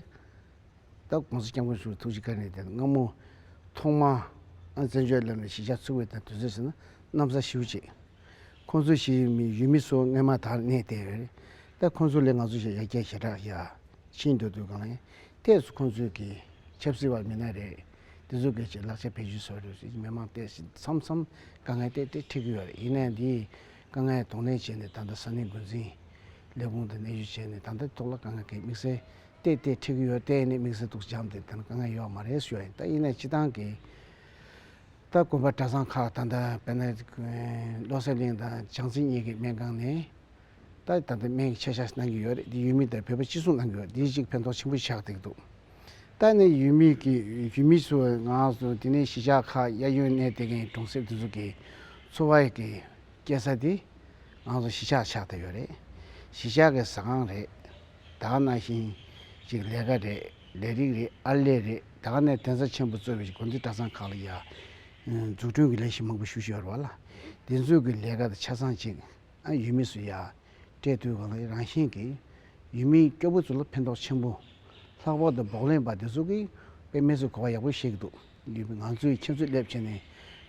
སྟབས་གོང་ས་སྐྱབས་མགོན་ཟུར་དུ་ཐུགས་རྗེ་ཁ་ནས་དེ་སྔ་མོ། ཐོག་མ། བཙན་བྱོལ་ལམ་ནས་གཞིས་ཆགས་ཚུགས་པའི་དུས་ཚོད་ཟེར་ན་གནམ་ས་བྱིའུ་གཅིག། ཁོང་ཚོ་ཞིག་ཡུལ་མི་སོགས་རྔན་མ་དག་གནས་ཏེ། སྟབས་ཁོང་ཚོ་ལས་ང་ཚོ་ཞིག་ཡར་རྒྱས་ཞེ་དྲག་ཡག། ཕྱིན་འགྲོ་དུས་གང་ཡིན་གཏད་སོ་ཁོང་ཚོས་གིས། ཆབ་སྲིད་བ་མི་སྣ་རེད། དེ་ཚོ་གིས་ཀྱི་ལག་ཆ་བེད་སྤྱོད་སོགས་རེད་མི་མང་གཏད་ཞིག་མཚམས་མཚམས་དཀའ་ངལ་གཏད་དེ་ཁྲིད་གི་ཡོད་རེད་ཡིན་ནའི་འདིས། དཀའ་ངལ་དོགས་གནས་བྱས་ནས་ད་ལྟ་ས་གནས་འགོ་འཛིན། ལས་ཁུངས་དང་གནས་བཞུགས་བྱས་ནས་ད་ལྟ་ཐོག་ལ་དཀའ་ངལ་གེགས་དམིགས་བསལ། བལྟས་བལྟས་འཁྲིག་གི་ཡོད་བལྟས་ནས་དམིགས་བསལ་དུག་སྦྱངས་བལྟས་དེ་ན་དཀའ་ངལ་ཡོད་མ་རེད་ཞུ་ཡ་ཡིན་ད་ཡིན་ནའི་སྤྱི་བཏང་གི་ད་དགོན་པ་གྲྭ་ཚང་ཁག་ད་ལྟ་བལྟས་ན་བློ་གསལ་གླིང་དང་བྱང་རྩེ་གཉིས་ཀྱི་སྨན་ཁང་ནས་ད་ལྟ་ད་སྨན་གྱི་ཆ་བཞག་གནང་གི་ཡོད་རེད་དེ་ཡུལ་མི་དང་བོད་པ་གཅིག་མཚུངས་གནང་གི་ཡོད་རེད་དེ་གཅིག་ཕན་ཐོག་ཆེན་པོ་ཆགས་བསྡད་ཀྱི་འདུག་ད་ནི་ཡུལ་མི་གི་ཡུལ་མི་ཚོའི་ངང་སོ་དེ་ནས་གཞིས་ཆགས་ཁག་གཡས་གཡོན་གནས་བལྟས་མཁན་གྲོང་གསེབ་དེ་ཚོ་གི་འཚོ་བ་ཡི་གི་སྐྱེལ་ས་དེ་ངང་སོ་གཞིས་ཆགས་ཆགས་བསྡད་ཡོད་རེད་གཞིས་ཆགས་ཀྱི་ཟ་ཁང་རེད། དག་ན་ཞིང། ཅིག་ལས་ཀ་རེད། ལས་རིགས་རེད་ཨར་ལས་རེད་དག་ནས་དན་ས་ཆེན་པོ་གཙོས་པའི་དགོན་སྡེ་གྲྭ་ཚང་ཁག་ལ་ཡང། འཛུགས་སྐྲུན་གྱི་ལས་གཞི་མང་པོ་ཞུ་བཞིན་ཡོད་རེད་བ་ལ། འདི་ཚོས་ཀྱི་ལས་ཀ་དང་ཆ་ཚང་ཅིག་ཡུལ་མི་སུ་ཡང་སྤྲད་དུས་གང་ལེགས་རང་བཞིན་གྱིས། ཡུལ་མིའི་སྐྱོ་པོ་ཚོ་ལ་ཕན་ཐོག་ཆེན་པོ། ལྷག་པར་དུ་བོགས་ལེན་པ་འདི་ཚོ་གིས་པའི་མི་ཚོས་གོ་བ་ཡག་པོ་ཤེས་ཀྱི་འདུག། ང་ཚོས་ཁྱེད་ཚོའི་སླེབས་ཕྱིན་ནས་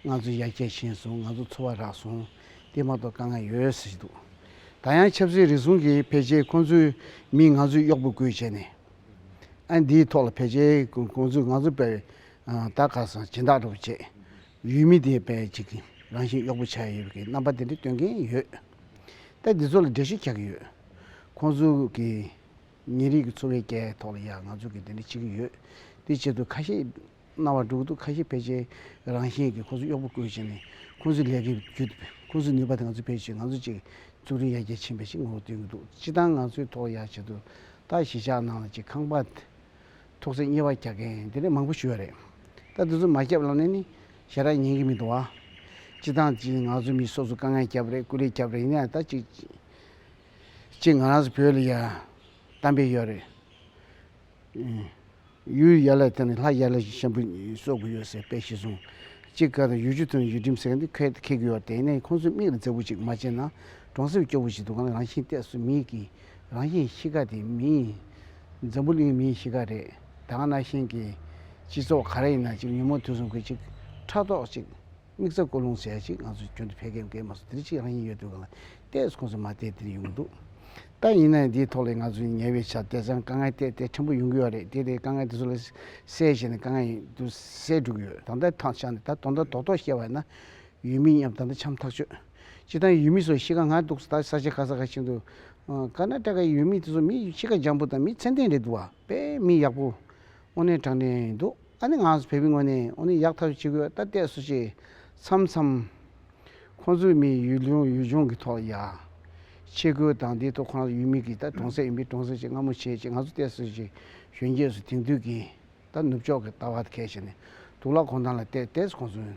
ང་ཚོའི་ཡ་གྱལ་ཞན་སོང་ང་ཚོའི་འཚོ་བ་རག་སོང་སྟེ་མ་གཏོགས་དཀའ་ངལ་ཡོད་ཟེར་གྱི་འདུག་ད་ཡང་ཆབ་སྲིད་རིག་གཞུང་གི་ཕལ་ཆེར་ཁོང་ཚོས་མིས་ང་ཚོའི་གཡོག་པོ་བསྐོས་བྱས་ནས་ཨ་འདིའི་ཐོག་ལ་ཕལ་ཆེར་ཁོང་ཚོས་ང་ཚོ་པའི་དར་ཁ་སང་སྦྱིན་བདག་འགྲོ་བྱེད་ཡུལ་མི་དེ་པའི་ཅིག་རང་བཞིན་གཡོག་པོ་བྱ་ཡི་ཡོད་པའི་རྣམ་པ་དེ་འདྲ་སྟོན་གྱིན་ཡོད་ལྟ་འདི་ཚོ་ལ་འགྲེལ་བཤད་བྱ་གི་ཡོད་ཁོང་ཚོ་གི། ཉིན་རེའི་གི་འཚོ་བའི་རྐྱལ་ཐོག་ལ་ཡང་ང་ཚོ་གི་འདི་འདྲ་ཅིག་ཡོད། དེའི་ཆེད་དུ་ཁ་ཤས་རྣ་བ་འགྲུག་འདུག་ཁ་ཤས་ཕལ་ཆེར་རང་བཞིན་གི་ཁོ་ཚོ་གཡོག་པོ་བསྐོས་བྱས་ནས་ཁོ་ཚོའི་ལས་ཀའི་བརྒྱུད་དེ་ཁོ་ཚོའི་ནུས་པ་དེ་ང་ཚོས་ཕལ་ཆེར་ང་ཚོ་གཅིག་གཙུག་རིང་ཡར་རྒྱས་ཕྱིན་པ་ཞིག་ངོ་བོ་སྟོན་གྱི་འདུག་སྤྱི་བཏང་ང་ཚོའི་ཐོག་ཡར་བྱེད་དུ་ད་གཞིས་ཆགས་ནང་ལ་ཅིག་ཁང་པ་ཐོག་ཚད་གཉེར་བ་རྒྱག་མཁན་འདི་འདྲ་མང་པོ་ཞུ་བ་རེད། ད་འདི་ཚོ་མ་བསྐྱབས་ལབ་ནས་ནི་ཞེ་དྲག་ཉན་གྱི་མི་འདུག་བ། སྤྱི་བཏང་ཅིག་ང་ཚོའི་མི་སོ་སོ་དཀའ་ངལ་བསྐྱབས་རེད་སྐུ་ལས་བསྐྱབས་རེད་ཡིན་ན་ད་ཅིག། གཅིག་ང་རང་ཚོ་བོད་ལ་ཡ་གཏམ་དཔེ་ཡོད་རེད། ཡུལ་ཡ་ལ་དེ་ནི་ལྷ་ཡ་ལ་ཞན་པོ་གསོག་གི་ཡོད་ཟེར་དཔེ་བཞི་བཟུང། གཅིག་སྐབས་དང་ཡུལ་ཆུ་དང་ཡུལ་ཁྲིམས་ཟེར་གི་འདི་ཁད་ཀྱི་ཡོད་དེ་ནས་ཁོང་ཚོས་མིག་ལ་མཛེས་པོ་ཅིག་མ་བྱས་ན་གྲོང་གསེབ་སྐྱོ་བོ་ཞིག་འདུག་གང་ལ་རང་བཞིན་གཏད་སོ་མིན་གྱི་རང་བཞིན་གཤིས་ཀ་དེ་མིན། འཛམ་བུ་གླིང་མིའི་གཤིས་ཀ་རེད་ད་ང་ན་ཤན་གྱི་སྤྱི་ཚོགས་ག་རེ་ཡིན་ན་ཅིག་ཉིན་མོ་དུས་སུ་འགོས་ཅིག་ཕྲག་དོག་ཅིག། དམིགས་བསལ་སྐོར་ལུང་ཟད་ཅིག་ང་ཚོ་ཁྱོད་ཚོ་ཕལ་སྐད་མཁས་མ་སོང་དེ་རིང་ཕྱིར་རང་ཉིད་ཡོད་དུས་གང་ལ་བལྟས་སུ་ཁོང་ཚོ་མ་བལྟས་དེ་རིང་ཡོང་གི་འདུག་ད་ཡིན་ནའི་འདིའི་ཐོག་ལས་ང་ཚོ་ནས་ཉེ་བའི་ཆར་དེ་ཚང་དཀའ་ངལ་དེ་དེ་ཕྲན་བུ་ཡོང་གི་ཡོད་རེད་དེ་དེ་དཀའ་ངལ་དེ་ཚོ་ལ་སེལ་བྱས་ནས་དཀའ་ངལ་ཡིན་དུ་སེལ་འགྲོ་གི་ཡོད་ད་ལྟའི་ཐང་ཆགས་ནས་ད་དོ་ཟླ་དོག་དོག་བཤད་བ་ན་ཡུལ་མི་མཉམ་ད་ལྟ་འཆམ་ཐག་ཆོད་སྤྱིར་བཏང་ཡུལ་མི་ཚོ་གཤིས་ཀ་ང་འདུག་ད་ས་ཆ་ཁ་ས་ཁ་ཆེ་འདུག་ཀར་ནཱ་ཏྲ་ཀའི་ཡུལ་མི་དེ་ཚོ་མི་གཤིས་ཀ་འཇམ་པོ་དང་མི་ཚད་ལྡན་རེད་འདུག་བ། པས་མི་ཡག་པོ་དངོས་གནས་དྲང་གནས་འདུག་ཨ་ནི་ང་བོད་མི་དངོས་གནས་དངོས་གནས་ཡག་ཐབས་བྱེད་དགོས་ལྟ་གཏད་སུ་བྱེད་མཚམས་མཚམས། ཁོང་ཚོའི་མི་ཡུལ་ལུང་ཡུལ་ལྗོངས་ཀྱི་ཐོག་ཡག་ཆེད་ཁུལ་དང་དེའི་ཐོག་ཁོང་རང་ཡུལ་མི་གིས་ད་གྲོང་གསེབ་ཡིན་པས་གྲོང་གསེབ་བྱེད་སྔ་མོ་བྱེད་ཅེས་ང་ཚོ་གཏད་སུ་བྱེད་གཞོན་སྐྱེས་སུ་དེང་དུས་ཀྱི་ད་ནུབ་ཕྱོགས་ཀྱི་ལྟ་བ་དེ་གལ་ཆེ་ནས་དུག་ལ་གོང་ཐང་ལ་གཏད་གཏད་སུ་གོང་ཚུན།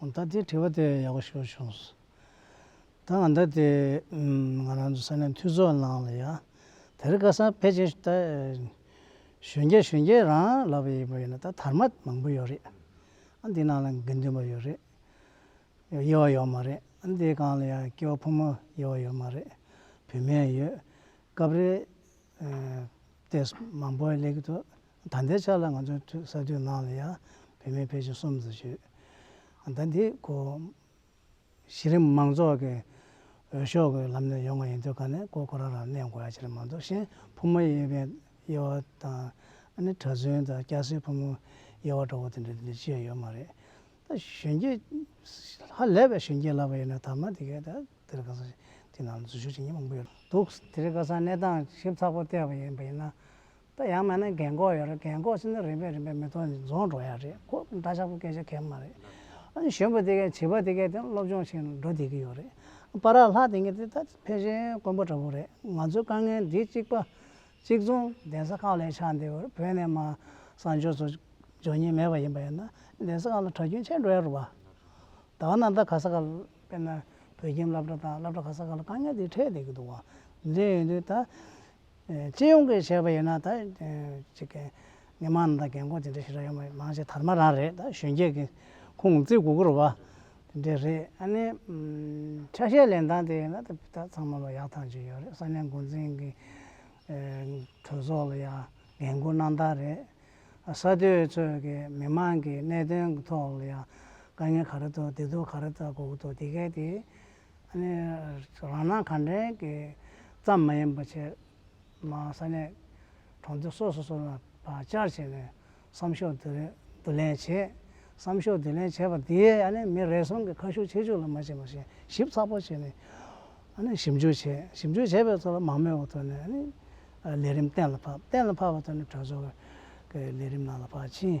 ད་ལྟའི་དྲི་བ་དེ་ཡག་པོ་ཞུ་བྱུང། ད་ང་ད་ལྟའི་ང་རང་ཚོ་ས་གནས་འཐུས་ཚོགས་ནང་ལ་ཡང་དེར་བཀའ་སངས་ཕལ་ཆེར་ད་གཞོན་སྐྱེས་གཞོན་སྐྱེས་རང་ལབ་པ་ཡིན་པ་ཡིན་ན་ད་དར་མ་མང་པོ་ཡོད་རེད། ཨ་འདི་ནང་ལ་དགེ་འདུན་པ་ཡོད་རེད། དབྱེ་བ་ཡོད་མ་རེད། ཨ་འདི་གང་ལ་ཡང་སྐྱེ་བོ་ཕོ་མོ་དབྱེ་བ་ཡོད་མ་རེད། བུད་མེད་ཡོད། སྐབས་རེ། ལྟས་མང་པོ་ལེགས་འདུག་ཟླ་འདིའི་ཆ་ལ་ང་ཚོའི་ཐུགས་གསར་དུས་ནང་ལ་ཡང་བུད་མེད་ཕལ་ཆེར་གསུམ་བཟོ་བྱོས། ཟླ་འདིའི་གོ། གཞི་རིམ་མང་ཚོགས་ཀྱི་འོས་ཤོག་གི་ལམ་ནས་ཡོང་བ་ཡིན་དུས་ཁ་ནས་ཀོ་ཀོ་ར་ར་གནས་དགོས་ཡ་ཆེར་མ་འདུག་གཞན་ཕོ་མོ་དབྱེ་བའི་དབྱེ་བ་དང། ཨ་ནེ་གྲྭ་བཙུན་དང་སྐྱ་སེར་ཕོ་མོ་དབྱེ་བ་འདྲ་བོ་དེ་འདྲ་དེ་འདྲ་ཅི་ཡང་ཡོད་མ་རེད། ད་གཞོན་སྐྱེས་ཧ་ལས་པའི་གཞོན་སྐྱེས་ལབ་པ་ཡིན་ན་ད་མ་དེ་གས་ད་དེ་རིང་ཁ་སང་དུས་ནང་ལ་འཛུལ་ཞུགས་བྱེད་མཁན་མང་པོ་ཡོད་འདུག་དེ་རིང་ཁ་སང་གནས་སྟངས་ཞིབ་ཚགས་པོ་བལྟས་པ་ཡིན་པ་ཡིན་ན། ད་ཡང་མེད་ན་གལ་འགོག་ཡོད་རེད་གལ་འགོག་བྱས་ན་རིམ་པས་རིམ་པས་མི་ཐོག་ནས་རྫོང་འགྲོ་ཡ་རེད་ཁོ་འདྲ་ཆགས་པོ་སྐད་ཆ་གལ་མ་རེད། ཨ་ནི་གཞོན་པ་དེ་གས་བྱིས་པ་དེ་གས་དེ་སློབ་སྦྱོང་བྱས་ནས་འགྲོ་བསྡད་ཀྱི་ཡོད་རེད། པ་རག་ལྷག་དེ་གས་དེ་ད་ཕལ་ཆེར་དཀོན་པོ་འདྲ་པོ་རེད་ང་ཚོའི་དཀའ་ངལ་འདི་གཅིག་པ། གཅིག་མཚུངས་གདན་ས་ཁག་ལས་ཆགས་འདི་བོད་ནས་མ་སངས་ཕྱོགས་སུ་འབྱོར་ཉེན་མེད་པ་ཡིན་པ་ཡིན་ན་གདན་ས་ཁག་ལ་གྲྭ་རྒྱུན་ཆད་འགྲོ་ཡ་རུ་བ། ད་བ་ན་ད་ག་ས་ཁག་དཔེར་ན་བོད་ཁྱིམ་བླ་བྲ་དང་བླ་བྲ་ག་ས་ཁག་ལ་དཀའ་ངལ་འདི་འཕྲད་བསྡད་ཀྱི་འདུག་བ་འདི་ཡིན་དུས་ད་སྤྱི་ཡོངས་ཀྱི་བྱས་པ་ཡིན་ན་ད་ཅི་གི་མི་མང་དང་རྒན་འཁོགས་དེ་འདྲ་ཞིག་ར་ཡོང་བ་མང་ཆེ་དར་མ་རང་རེད་ད་གཞོན་སྐྱེས་ཀྱི་ཁུང་བརྩེགས་དགུ་བསྐོར་བ་དེ་འདྲ་རེད་ཨ་ནི་ཆ་ཤས་ལེན་སྟངས་དེ་ཡིན་ན་ད་ཚང་མ་ལ་ཡག་ཐང་ཅིག་ཡོད་རེད་ས་གནས་འགོ་འཛིན་གྱི་གྲོས་ཚོགས་ལ་ཡང་འགན་ཁུར་གནང་སྟངས་རེད། ས་སྡོད་ཚོས་ཀྱི་མི་མང་གི་གནད་དོན་གྱི་ཐོག་ལ་ཡང་དཀའ་ངལ་ག་རེ་ཐོག་བདེ་སྡུག་ག་རེ་ལྟ་དགོས་ཀྱི་འདུག་དེ་གའི་དེ་རང་སྣང་གང་དྲན་གྱི་ཙམ་མ་ཡིན་པར་བྱས། མ་ས་གནས་གྲོང་ཚོ་སོ་སོ་སོ་ལ་བར་བཅར་བྱས་ནས་བསམ་ཤོག་བསྡུ་ལེན་བྱས། བསམ་ཤོག་བསྡུ་ལེན་བྱས་པ་དེས་མི་རེ་ཟུང་གི་ཁ་ཤུགས་ཆེ་ཆུང་ལ་མ་བྱས་པར་བྱས་ཞིབ་ཚགས་པོ་བྱས་ནས་ཞིབ་འཇུག་བྱས། ཞིབ་འཇུག་བྱས་པའི་ཐོག་ལ་མང་མོས་བ་ཐོན་ནས་ལས་རིམ་གཏན་ལ་ཕབ། གཏན་ལ་ཕབ་པ་ཐོན་ནས་གྲོས་ཚོགས་ཀྱི་ལས་རིམ་ནང་ལ་བར་ཕྱིན།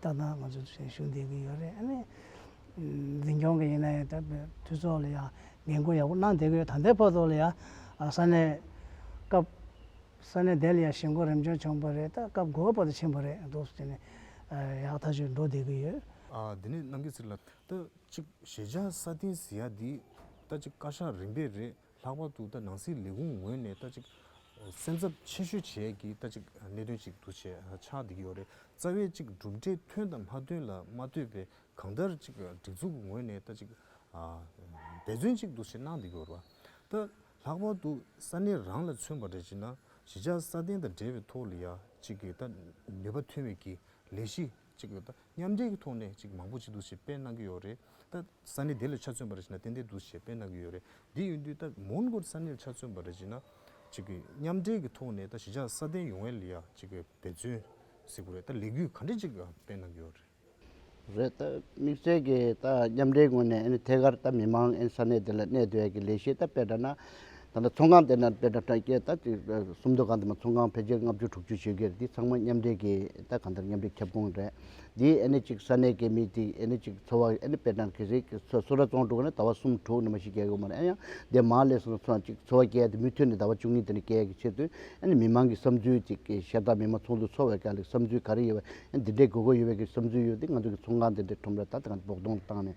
ཏག་ཏག་ང་ཚོ་ཞུ་བསྡད་ཀྱི་ཡོད་རེད་ཨ་ནི། འཛིན་སྐྱོང་གི་ཡིན་ན་ཡང་དག་པའི་འཐུས་ཚོགས་ལ་ཡང་འགན་ཁུར་ཡག་པོ་གནང་བསྡད་ཀྱི་ཡོད་ད་ལྟའི་བར་དུ་ལ་ཡང་ས་གནས་སྐབས་ས་གནས་དེ་ལ་ཡང་ཞེན་ཁོག་རིམ་བྱོན་བྱུང་བ་རེད་ད་སྐབས་དགོས་པ་བར་དུ་ཕྱིན་པ་རེད་འདུག་ཟེར་ནས་ཡག་ཐག་ཆོད་འགྲོ་བསྡད་ཀྱི་ཡོད། འདི་ནས་གནང་གི་ཟེར་ལ་ད་ཅིག་ཞེ་བྱ་ས་སྟེང་ཟེར་ཡག་འདི་ད་ཅིག་བཀའ་ཤག་རིམ་པས་རེད། ལྷག་པར་དུ་ད་ནང་སྲིད་ལས་ཁུངས་ངོས་ནས་ད་ཅིག་སེམས་འཚབ་ཆེ་ཤོས་བྱས་ཀྱི་ད་ཅིག་གནད་དོན་ཅིག་འདུ་བྱས་ཆགས་འདི་གི་ཡོད་རེད་རྩ་བའི་ཅིག་གྲུབ་འབྲས་ཐོན་དང་མ་ཐོན་ལ་མ་ལྟོས་པའི་གང་ལྟར་ཅིག་སྒྲིག་འཛུགས་ཀྱི་ངོས་ནས་ད་ཅིག་འབད་བརྩོན་ཅིག་འདུ་བྱེད་གནང་འདི་གི་ཡོད་རེད་པ་ད་ལྷག་པར་དུ་ས་གནས་རང་ལ་མཚོན་པ་རེད་ཅེ་ན་གཞིས་ཆགས་སྲ་བརྟན་དང་འབྲེལ་བའི་ཐོག་ལ་ཡ་ཅིག་གི་ད་ནུས་པ་ཐོན་མེད་ཀྱི་ལས་གཞི་ཅིག་ཡོད། མཉམ་འདྲེས་ཀྱི་ཐོག་ནས་ཅིག་མང་པོ་ཅིག་འདུ་ཤེས་སྤེལ་གནང་གི་ཡོད་རེད། ད། ས་གནས་དེ་ལ་ཆ་མཚོན་པ་རེ་བྱས་ན་ཏན་ཏན་འདུ་ཤེས་སྤེལ་གནང་གི་ཡོད་རེད། དེ་ཡིན་དུས་ད་མོན་གྷོ་ས་གནས་ལ་ཆ་མཚོན་པ་རེ་བྱས་ན། ཅིག་མཉམ་འདྲེས་ཀྱི་ཐོག་ནས་ད་གཞིས་ཆགས་སྲ་བརྟན་ཡོང་བའི་ལ་ཅིག་འབད་བརྩོན། གཟིགས་དགོས་རེད། ད་ལས་འགུལ་ག་འདྲ་ཅིག་སྤེལ་གནང་གི་ཡོད་རེད། རེད། ད་དམིགས་བསལ་གྱི་ད་མཉམ་འདྲེས་ངོས་ནས་ཨ་ནི་ཐད་ཀར་ད་མི་མང་ཨ་ནི་ས་གནས་དེ་ལ་གནས་སྡོད་ཀྱི་ལས་གཞི་ད་སྤེལ་དྲགས་ན། ད་ལྟ་ཚོང་ཁང་དེ་ནང་དཔེ་ཁྲ་ཁྲ་སྐྱེལ་ད་ཅི་གསུམ་སྡོད་ཁང་དེ་མ་ཚོང་ཁང་ཕལ་ཆེར་ལྔ་བཅུ་དྲུག་བཅུ་ཆོད་གེར་འདི་ཚང་མ་མཉམ་འབྲེལ་གྱི་ད་གང་ལྟར་མཉམ་འབྲེལ་ཁྱབ་ཁོངས་རེད། འདིའི་ཨེ་ནི་གཅིག་ས་གནས་ཀྱི་མི་དེ་ཨེ་ནི་གཅིག་འཚོ་བ་ཨེ་ནི་དཔེ་ཁྲ་གི་རིགས་ཀྱི་ཚོ་སུ་ར་ཙོང་དྲུག་གི་ནི་ད་བ་གསུམ་དྲུག་ནི་མ་ཤི་རྒྱལ་ཡོད་མ་རེད་ཨེ་ཡང་འདི་མང་ལས་སུ་ཚོ་གཅིག་འཚོ་བ་སྐྱེལ་ཏེ་མུ་མཐུད་ནས་ད་བ་བཅུ་གཉིས་དེ་ནི་སྐྱེལ་གི་ཆེད་དུ་ཨེ་ནི་མི་མང་གི་བསམ་ཚུལ་ཅིག་གི་ཤེས་སྟངས་མི་མང་ཚོགས་འདུ་འཚོགས་བའི་སྐད་ལ་བསམ་ཚུལ་ག་རེ་ཡོད་པ་ཨེ་ནི་འདི་འདྲའི་དགོས་མཁོ་ཡོད་པའི་གི་བསམ་ཚུལ་ཡོད་དེ་ང་ཚོ་གི་ཚོང་ཁང་དེ་འདྲའི་ཁྲོམ་ར་ད་ད་གང་བོགས་གཏོང་བཏང་ནས་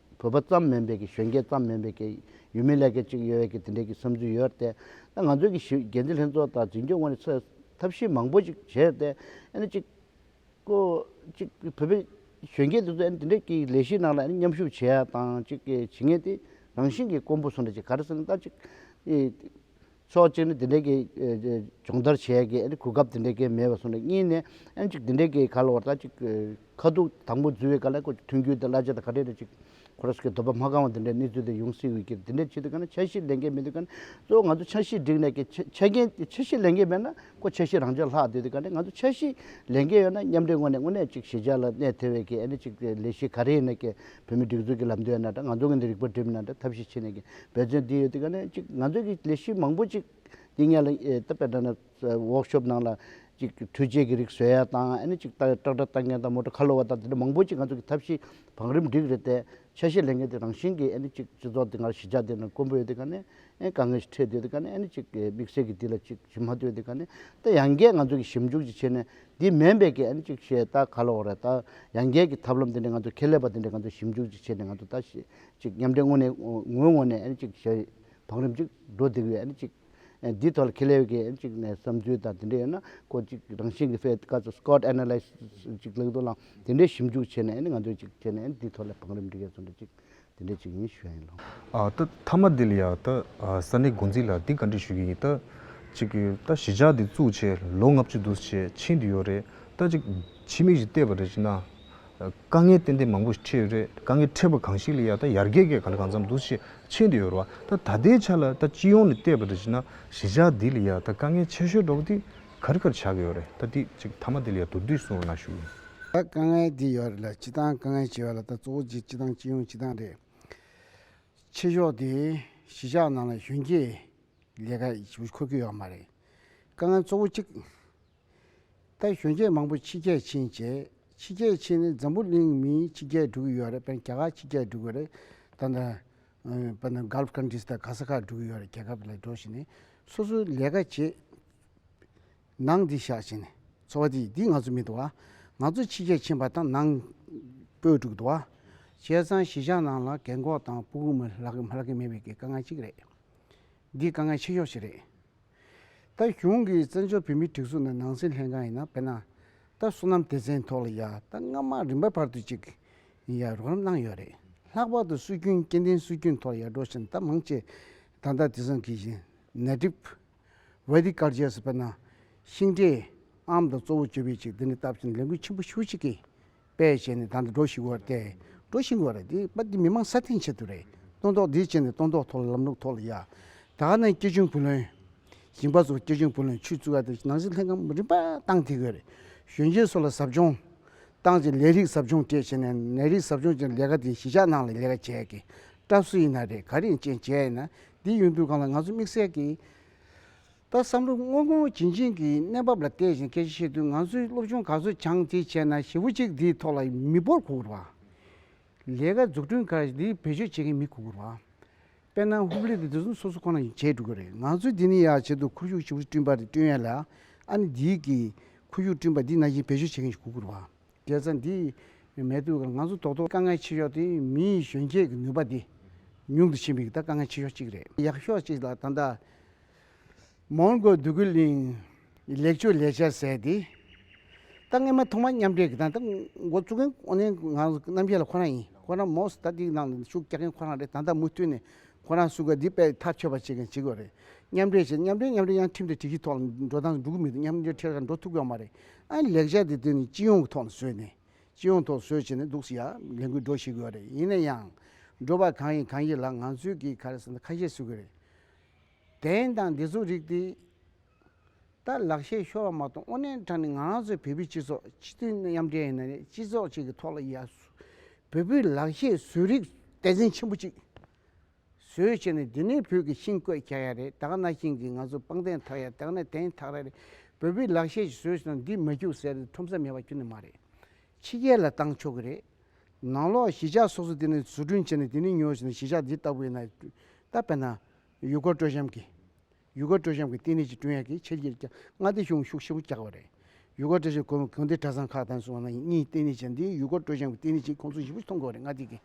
བོད་པ་ཙམ་མིན་པའི་གི་གཞོན་སྐྱེས་ཙམ་མིན་པའི་གི་ཡུལ་མི་ལས་ཀའི་ཅིག་ཡོད་བའི་གི་དེ་འདྲའི་གི་བསམ་ཚུལ་ཡོད་རྟེ། ད་ང་ཚོའི་གི་ཞིབ་རྒྱས་འཛིན་ལྷན་ཚོགས་དང་འཛིན་སྐྱོང་ངོས་ནས་ཚོས་ཐབས་ཤེས་མང་པོ་ཅིག་བྱས་རྟེ། ཨ་ནི་ཅིག། ཀོ། ཅིག་བོད་པའི་གཞོན་སྐྱེས་དེ་ཚོས་ཨ་ནི་དེ་འདྲའི་གི་ལས་གཞིའི་ནང་ལ་ཨ་ནི་མཉམ་ཞུགས་བྱེད་ཡ་དང་ཅིག་གི་བྱེད་ངེས་ཏེ། རང་བཞིན་གི་དཀོན་པོ་སུ་འདྲ་ཅིག་ག་རེ་ཟེར་ན་ད་ཅིག། ཕྱོགས་གཅིག་ནི་དེ་འདྲའི་གི་སྦྱོང་བརྡར་བྱས་ཀི་གོ་སྐབས་དེ་འདྲའི་གི་མེད་པ་སོང་ནས་གཉིས་ནི་ཨེན་ཅིག་དེ་འདྲའི་གི་ག་ལ་བར་ད་ཅིག་ཁ་ཐུག་དང་པོ་འཛུལ་བའི་ག་ལ་ཁོ་ཅིག་མཐུན་འགྱུར་དེ་གླ་ཆ་དང་ཁ་བྲལ་དུ་ཅིག་ཁོ་ར་སི་ཁའི་འདོད་པ་མ་བསྐང་བ་དེ་འདྲའི་གནས་ཚུལ་དེ་ཡོང་སྲིད་འོས་ཀི་རེད་དེ་འདྲའི་ཆེད་དུ་ག་ནི་འཆར་གཞི་ལེན་མཁན་མེད་དུས་ག་ནི་གཙོ་བོ་ང་ཚོ་འཆར་གཞི་བསྒྲིགས་ནས་གི་ཆ་རྐྱེན་འཆར་གཞི་ལེན་མཁན་མེད་ན་ཁོ་འཆར་གཞི་རང་འཇགས་ལྷག་དུས་དེ་ག་ནི་ང་ཚོ་འཆར་གཞི་ལེན་མཁན་ཡོད་ན་མཉམ་འབྲེལ་ངོས་ནས་དངོས་གནས་ཅིག་ཞི་འཇགས་ལ་གནས་ཐེ་བའི་གི་ཨེ་ནི་ཅིག་ལས་གཞི་ག་རེ་ཡིན་ན་གི་བོད་མིའི་སྒྲིག་འཛུགས་ཀྱི་ལམ་སྟོན་ན་འདྲ་ང་ཚོ་གི་འདི་རིག་པ་སྒྲིམ་ན་འདྲ་ཐབས་ཤེས་བྱེད་ནས་ཀྱི་འབད་བརྩོན་དེ་ཡོད་དེ་ག་ནས་གཅིག་ང་ཚོ་གི་ལས་གཞི་མང་པོ་ཅིག་འདི་ངས་ལ་ད་པེ་ད་ན་ཝོག་ཤོབ་ནང་ལ་ཅིག་འཕྲུལ་ཆས་ཀྱི་རིགས་བཟོས་ཡ་དང་ཨ་ནི་ཅིག་ཏག་ཏྲག་ཏྲ་ལྟ་མཁན་དང་མོ་ཏྲོ་ཁ་ལོ་བ་དང་དེ་འདྲ་མང་པོ་ཅིག་ང་ཚོ་གི་ཐབས་ཤེས་བང་རིམ་འགྲིག་རེད་དེ་ཆ་ཤས་ལེན་མཁན་དེ་རང་བཞིན་གྱི་ཨ་ནི་ཅིག་སྤྱི་ཚོགས་དེ་ང་ར་གཞི་ཆགས་དེ་ན་དཀོན་པོ་ཡོད་དེ་ག་ནས་ཨེ་དཀའ་ངལ་ཞིག་འཕྲད་དུས་དེ་ག་ནས་ཨ་ནི་ཅིག་དམིགས་བསལ་གྱི་འདི་ལ་ཅིག་ཞིབ་མ་ཐུབ་ཡོད་དེ་ག་ནས་ད་ཡང་སྐད་ང་ཚོ་གི་ཞིབ་འཇུག་ཅིག་བྱེད་ནས་འདི་མེད་འབད་ཀྱི་ཨན་ཅིག་ཞེས་ད་ག་ལ་འོ་རེད་ད་ཡང་རྒྱས་ཀྱི་ཐབས་ལམ་འདི་འདྲའི་ང་ཚོ་ཁེ་ལས་པ་འདི་འདྲས་ང་ཚོ་ཞིབ་འཇུག་ཅིག་བྱས་ནས་ང་ཚོ་ད་ཤེས་ཅིག་མཉམ་འབྲེལ་ངོ་ནས་ངོའི་ངོ་ནས་ཨན་ཅིག་ཞེས་བང་རིམ་ཅིག་འགྲོ་བདེ་གི་ཨན་ཅིག་འདིའི་ཐོག་ལ་ཁེ་ལས་ཀྱི་ཨན་ཅིག་ནས་བསམ་ཚུལ་དང་དེ་འདྲས་ཡོད་ན་ཁོ་ཅིག་རང་བཞིན་གྱི་ཕེད་ཀ་ཚོ Scott Analysis ཅིག་ལེགས་འདུག་ལ་དེ་འདྲས་ཞིབ་འཇུག་བྱས་ནས་ཨན་ང་ཚོ་ཅིག་བྱས་ནས་ཨན་འདིའི་ཐོག་ལ་བང་རིམ་འབྲི་གས་ཚོ་འདྲ་ཅིག་དེ་འདྲས་བྱེད་ཀྱི་ཡིན་ཞུ་ཡ་ཡིན་ལོ། ད་མཐའ་མ་འདི་ལ་ཡང་ད་ས་གནས་འགོ་འཛིན་ལ་འདི་ག་འདྲི་ཞུ་ཡི་ཡིན་ད། གཅིག་གི་ད་གཞིས་ཆགས་འདི་བཙུགས་ཆེད་ལོ་ལྔ་བཅུ་དུས་ཆེད་ཕྱིན་དུ་ཡོད་རེད་ད་ཅིག་ཕྱི་མིག་ཞིག་བལྟས་པ་རེད་ཅེ་ན། དཀའ་ངལ་ཏན་ཏན་མང་པོ་ཞིག་འཕྲད་ཡོད་རེད་དཀའ་ངལ་འཕྲད་པ་གང་ཞིག་ལ་ཡང་ད་ཡར་རྒྱས་སྐད་ག་ལ་གང་འཚམ་དུས་ཆེད་ཕྱིན་དུ་ཡོད་རེད་བ་ད་ད་ལྟའི་ཆ་ལ་ད་སྤྱི་ཡོངས་ནས་བལྟས་པ་རེད་ཅེ་ན་གཞིས་ཆགས་འདི་ལ་ཡང་ད་དཀའ་ངལ་ཆེ་ཤོས་འགྲོ་བ་འདི་གར་གར་བྱ་གི་ཡོད་རེད་ད་དེ་ཅིག་ཐ་མ་དེ་ལ་ཡ་དུར་དུས་སོང་ན་ཞུ། ད་དཀའ་ངལ་འདི་ཡོད་རེད་ལ་སྤྱི་བཏང་དཀའ་ངལ་ཆེ་བ་ལ་ད་གཙོ་བོ་རྗེ་སྤྱི་བཏང་སྤྱི་ཡོངས་སྤྱི་བཏང་རེད། ཆེ་ཕྱོགས་དེ་གཞིས་ཆགས་ནང་ལ་གཞོན་སྐྱེས་ལས་ཀ་ཁོ་གི་ཡོད་མ་རེད། དཀའ་ངལ་གཙོ་བོ་གཅིག་ད་གཞོན་སྐྱེས་མང་པོ་ཕྱི་རྒྱལ་ཕྱིན་བྱས་ཕྱི་རྒྱལ་ཕྱིན་ནས་འཛམ་བུ་གླིང་མི་ཕྱི་རྒྱལ་འགྲོ་གི་ཡོད་རེད་པན་རྒྱ་གར་ཕྱི་རྒྱལ་འགྲོ་གི་རེད་ད་ནི་པན་ནི Gulf Countries དང་ག་ས་ག་འགྲོ་གི་ཡོད་རེད་རྒྱལ་ཁབ་ལ་འགྲོ་བཞིན་ནས་སོ་སོའི་ལས་ཀ་བྱེད་ནང་འདི་བཞག་བྱས་ནས་འཚོ་བ་དེ་འདི་ང་ཚོ་མི་འདུག་ཨ། ང་ཚོ་ཕྱི་རྒྱལ་ཕྱིན་པ་དང་ནང་སྤོས་དྲུག་འདུག་ཨ། བྱས་ཙང་གཞིས་ཆགས་ནང་ལ་གད་འགོག་དང་སྤུ་གུ་མི་ལག་གི་མེད་པའི་དཀའ་ངལ་གཅིག་རེད། འདི་དཀའ་ངལ་ཆེ་ཤོས་ཤིག་རེད། ད་གཞུང་གིས་བཙན་བྱོལ་བོད་མིའི་སྒྲིག་འཛུགས་ནང་ནང་སྲིད་ལྷན་ཁང་ཡིན་ན་དཔེར་ན། ད་བསོད་ནམས་སྡེ་ཚན་ཐོག་ལ་ཡ་ད་སྔ་མ་རིམ་པ་བར་དུ་ཅིག་ཡ་རོགས་རམ་གནང་ཡོད་རེད། ལྷག་པར་དུ་སྲོལ་རྒྱུན་སྐྱེ་ལྡན་སྲོལ་རྒྱུན་ཐོག་ལ་ཡ་འགྲོ་བཞིན་ད་མང་ཆེ་ད་ད་དེ་ཚང་གིས་བཞིན་ནད་གྲིབ Vedic དཀར་རྗེས་སུ་དཔེར་ན། ཤིང་འབྲས། ཨམ་དང་གཙོ་བོ་བཅོས་པའི་ཆེད་འདི་ནི་སྟབས་ཅིག་ལས་འགུལ་ཆེན་པོ་ཤུགས་ཆེ་གིས་དཔེ་བྱས་ནས་དང་དུ་འགྲོ་ཞིག་གོ་སྟེ། འགྲོ་ཞིང་གོ་རེད་འདིའི་པ་འདི་མི་མང་སྲ་བརྟན་ཆེད་དུ་རེད། སྟོན་ཐོག་འདིའི་ཆེད་ནི་སྟོན་ཐོག་ཐོག་ལ་ལམ་ལུགས་ཐོག་ལ་ཡ། ད་ནི་སྐྱེ་ཆུང་བུ་ལོན། ཞིང་པ་ཚོར་སྐྱེ་ཆུང་བུ་ལོན་ཆུད་བཙུད་ཀ་དེ་ནང་བཞིན་ལྷན་ཁང་རིམ་པ་བཏང་ཐིག་གོ་རེད། གཞོན་སྐྱེས་ཚོ་ལ་ཟབ་སྦྱོང། བཏང་རྗེས་ལས་རིགས་ཟབ་སྦྱོང་བཅས་བྱས་ནས་ནད་རིགས་ཟབ་སྦྱོང་བྱས་ནས་ལས་ཀ་དེ་གཞིས་ཆགས་ནང་ལ་ལས་ཀ་བྱས་ཀྱི། སྐྲ་བསུ་ཡིན་ན་རེད་ག་རིང་ཅན་བྱས་ཡིན་ན་འདི་ཡོད་འདུག་གང་ལ་ང་ཚོས་དམིགས་བསལ་གྱིས་ད་བསམ་བློ་དངོས་དངོས་བྱིན་བྱིན་གྱིས་གནས་བབ་ལ་བལྟས་ཤིང་སྐད་ཆ་བཤད་དུས་ང་ཚོའི་སློབ་ཆུང་ག་ཚོད་བྱང་ཚིག་བྱས་ན་ཞེ་བོ་གཅིག་འདིའི་ཐོག་ལ་མི་འབོར་གུག་རུ་བ། ལས་ཀ་འཛུགས་སྐྲུན་ཁར་འདིའི་བེད་སྤྱོད་བྱེད་མཁན་མི་གུག་རུ་བ། དཔེར་ན་ཧུབ་ལི་དེ་དེ་ཚོ་སོ་སོ་ཁོ་ན་བྱས་འགྲོ་གི་རེད་ང་ཚོས་འདི་ནས་ཡར་བྱེད་དུ་ཁུར་ཤུགས་ཞེ་བོ་སྐྲུན་པ་རེ་སྐྲུན་ཡ་ལ་ཨ་ནི་འདིའི་གིས་ཁུར་ཤུགས་སྐྲུན་པ་འདི་ན་བཞིན་བེད་སྤྱོད་བྱེད་མཁན་ཞིག་གུག་རུ་བ། རྒྱལ་ས་འདི་ཡི་མལ་དུ་ང་ཚོ་རྡོག་རྡོག་དཀའ་ངལ་ཆེ་ཤོས་དེ་མིའི་གཞོན་སྐྱེས་ཀྱི་ནུས་པ་དེ་ཉུང་དུ་ཕྱིན་པའི་དཀའ་ངལ་ཆེ་ཤོས་གཅིག་རེད། ཡག་ཤོས་གཅིག་ལ་ད་ལྟ་མོང་གོལ་བདུད་རྒུད་གླིང་གི་ལེགས་བཅོས་ལས་འཆར་ཟེར་ཏེ་ད་སྔ་མ་ཐོག་མ་མཉམ་འབྲེལ་གྱི་ད་ལྟ་འགོ་བཙུགས་མཁན་ཨོ་ནན་ང་རྣམ་རྒྱལ་ལ་ཁོ་རང་ཡིན་ཁོ་རང་མོ་སི་ད་ཏིའི་ནང་དུ་ཤུགས་རྒྱག་མཁན་ཁོ་རང་རེད་ད་ལྟ་མུ་མཐུད་ནས་ཁོ་རང་བསུ་སྐད་འདི་པས་ཐག་ཆོད་པ་བྱེད་མཁན་བྱེད་དགོས་རེད་མཉམ་འབྲེལ་བྱེད་མཉམ་འབྲེལ་མཉམ་འབྲེལ་ཡང་ཁྲིམས་དེ་གྲིགས་གཞི་ཐོག་ལ་འགྲོ་སྟངས་འགྲོ་གི་མི་འདུག་མཉམ་འབྲེལ་ཁྲིར་ཀ་འགྲོ་ཐུབ་ཀྱི་ཡོད་མ་རེད་ལེགས་ཆ་དེ་དོན་གྱི་སྤྱི་ཡོངས་ཀྱི་ཐོག་ལ་བཟོས་ནས། སྤྱི་ཡོངས་ཐོག་བཟོས་བྱས་ནས་འདུག་ཟེར་ཡ་ལས་འགུལ་འགྲོ་ཤེས་དགོས་རེད་ཡིན་ན་ཡང། འགྲོ་པ་གང་ཡིན་གང་ཡིན་ལ་ང་ཚོས་ཀྱིས་ག་རེ་ཟེར་ན་ཁ་ཤས་ཟོས་དགོས་རེད། དེང་དང་འདི་ཚོ་རིགས་དེ། ད་ལག་ཤས་ཤོར་བ་མ་གཏོགས་དངོས་གནས་དྲང་ནས་ང་ཚོ་བོད་པའི་སྤྱི་ཚོགས་སྤྱི་མཐུན་མཉམ་འབྲེལ་ཡིན་ན་ནས་སྤྱི་ཚོགས་གཅིག་གི་ཐོག་ལ་ཡ། བོད་པའི་ལག་ཤས་ཟོས་རིགས་དད་སེམས་ཆེན་པོ་གཅིག། བཟོས་བྱས་ནས་འདི་ནས་བོད་ཀྱི་ཤིང་བརྐོས་ཁྱ་ཡ་རེད་དག་ན་ཤིང་གིས་ང་ཚོ་པང་གདན་འཐག་ཡ་དག་ན་གདན་འཐག་ར་རེད་བོད་པའི་ལག་ཤེས་ཀྱིས་བཟོས་བྱས་ན་འདི་མ་རྒྱུག་ཟེར་ནས་ཁྲོམ་ས་མེད་པ་ཁྱོན་ནས་མ་རེད། ཕྱི་རྒྱལ་ལ་བཏང་ཆོག་གི་རེད། ནང་ལོག་གཞིས་ཆགས་སོ་སོ་དེ་ནས་བཟོ་སྐྲུན་བྱས་ནས་དེ་ནས་ཉོས་བྱས་ན་གཞིས་ཆགས་འདི་ལྟ་བུ་ཡིན་ན། ད་བལྟ་ན། ཡུལ་སྐོར་སྤྲོ་འཆམ་གྱི། ཡུལ་སྐོར་སྤྲོ་འཆམ་གྱི་ལྟེ་གནས་ཀྱི་ཀྲུང་དབྱང་གིས་ཆེད་གྱེར་ཀྱང་མངའ་སྡེ་གཞུང་ཤུགས་ཆེན་པོ་རྒྱག་པ་རེད། ཡུལ་སྐོར་སྤྲོ་འཆམ་གོ་མི་གང་དེ་གྲྭ་ཚང་ཁག་དང་སོགས་ནང་གཉིས་ལྟེ་གནས་བྱས་འདིའི་ཡུལ་སྐོར་སྤྲོ་འཆམ་གྱི་ལྟེ་གནས་ཀྱི་ཁོངས་གཏོགས་ཞིབ་ཕྲ་ཐོ་འགོད་རེ་མངའ་སྡེ་དེ་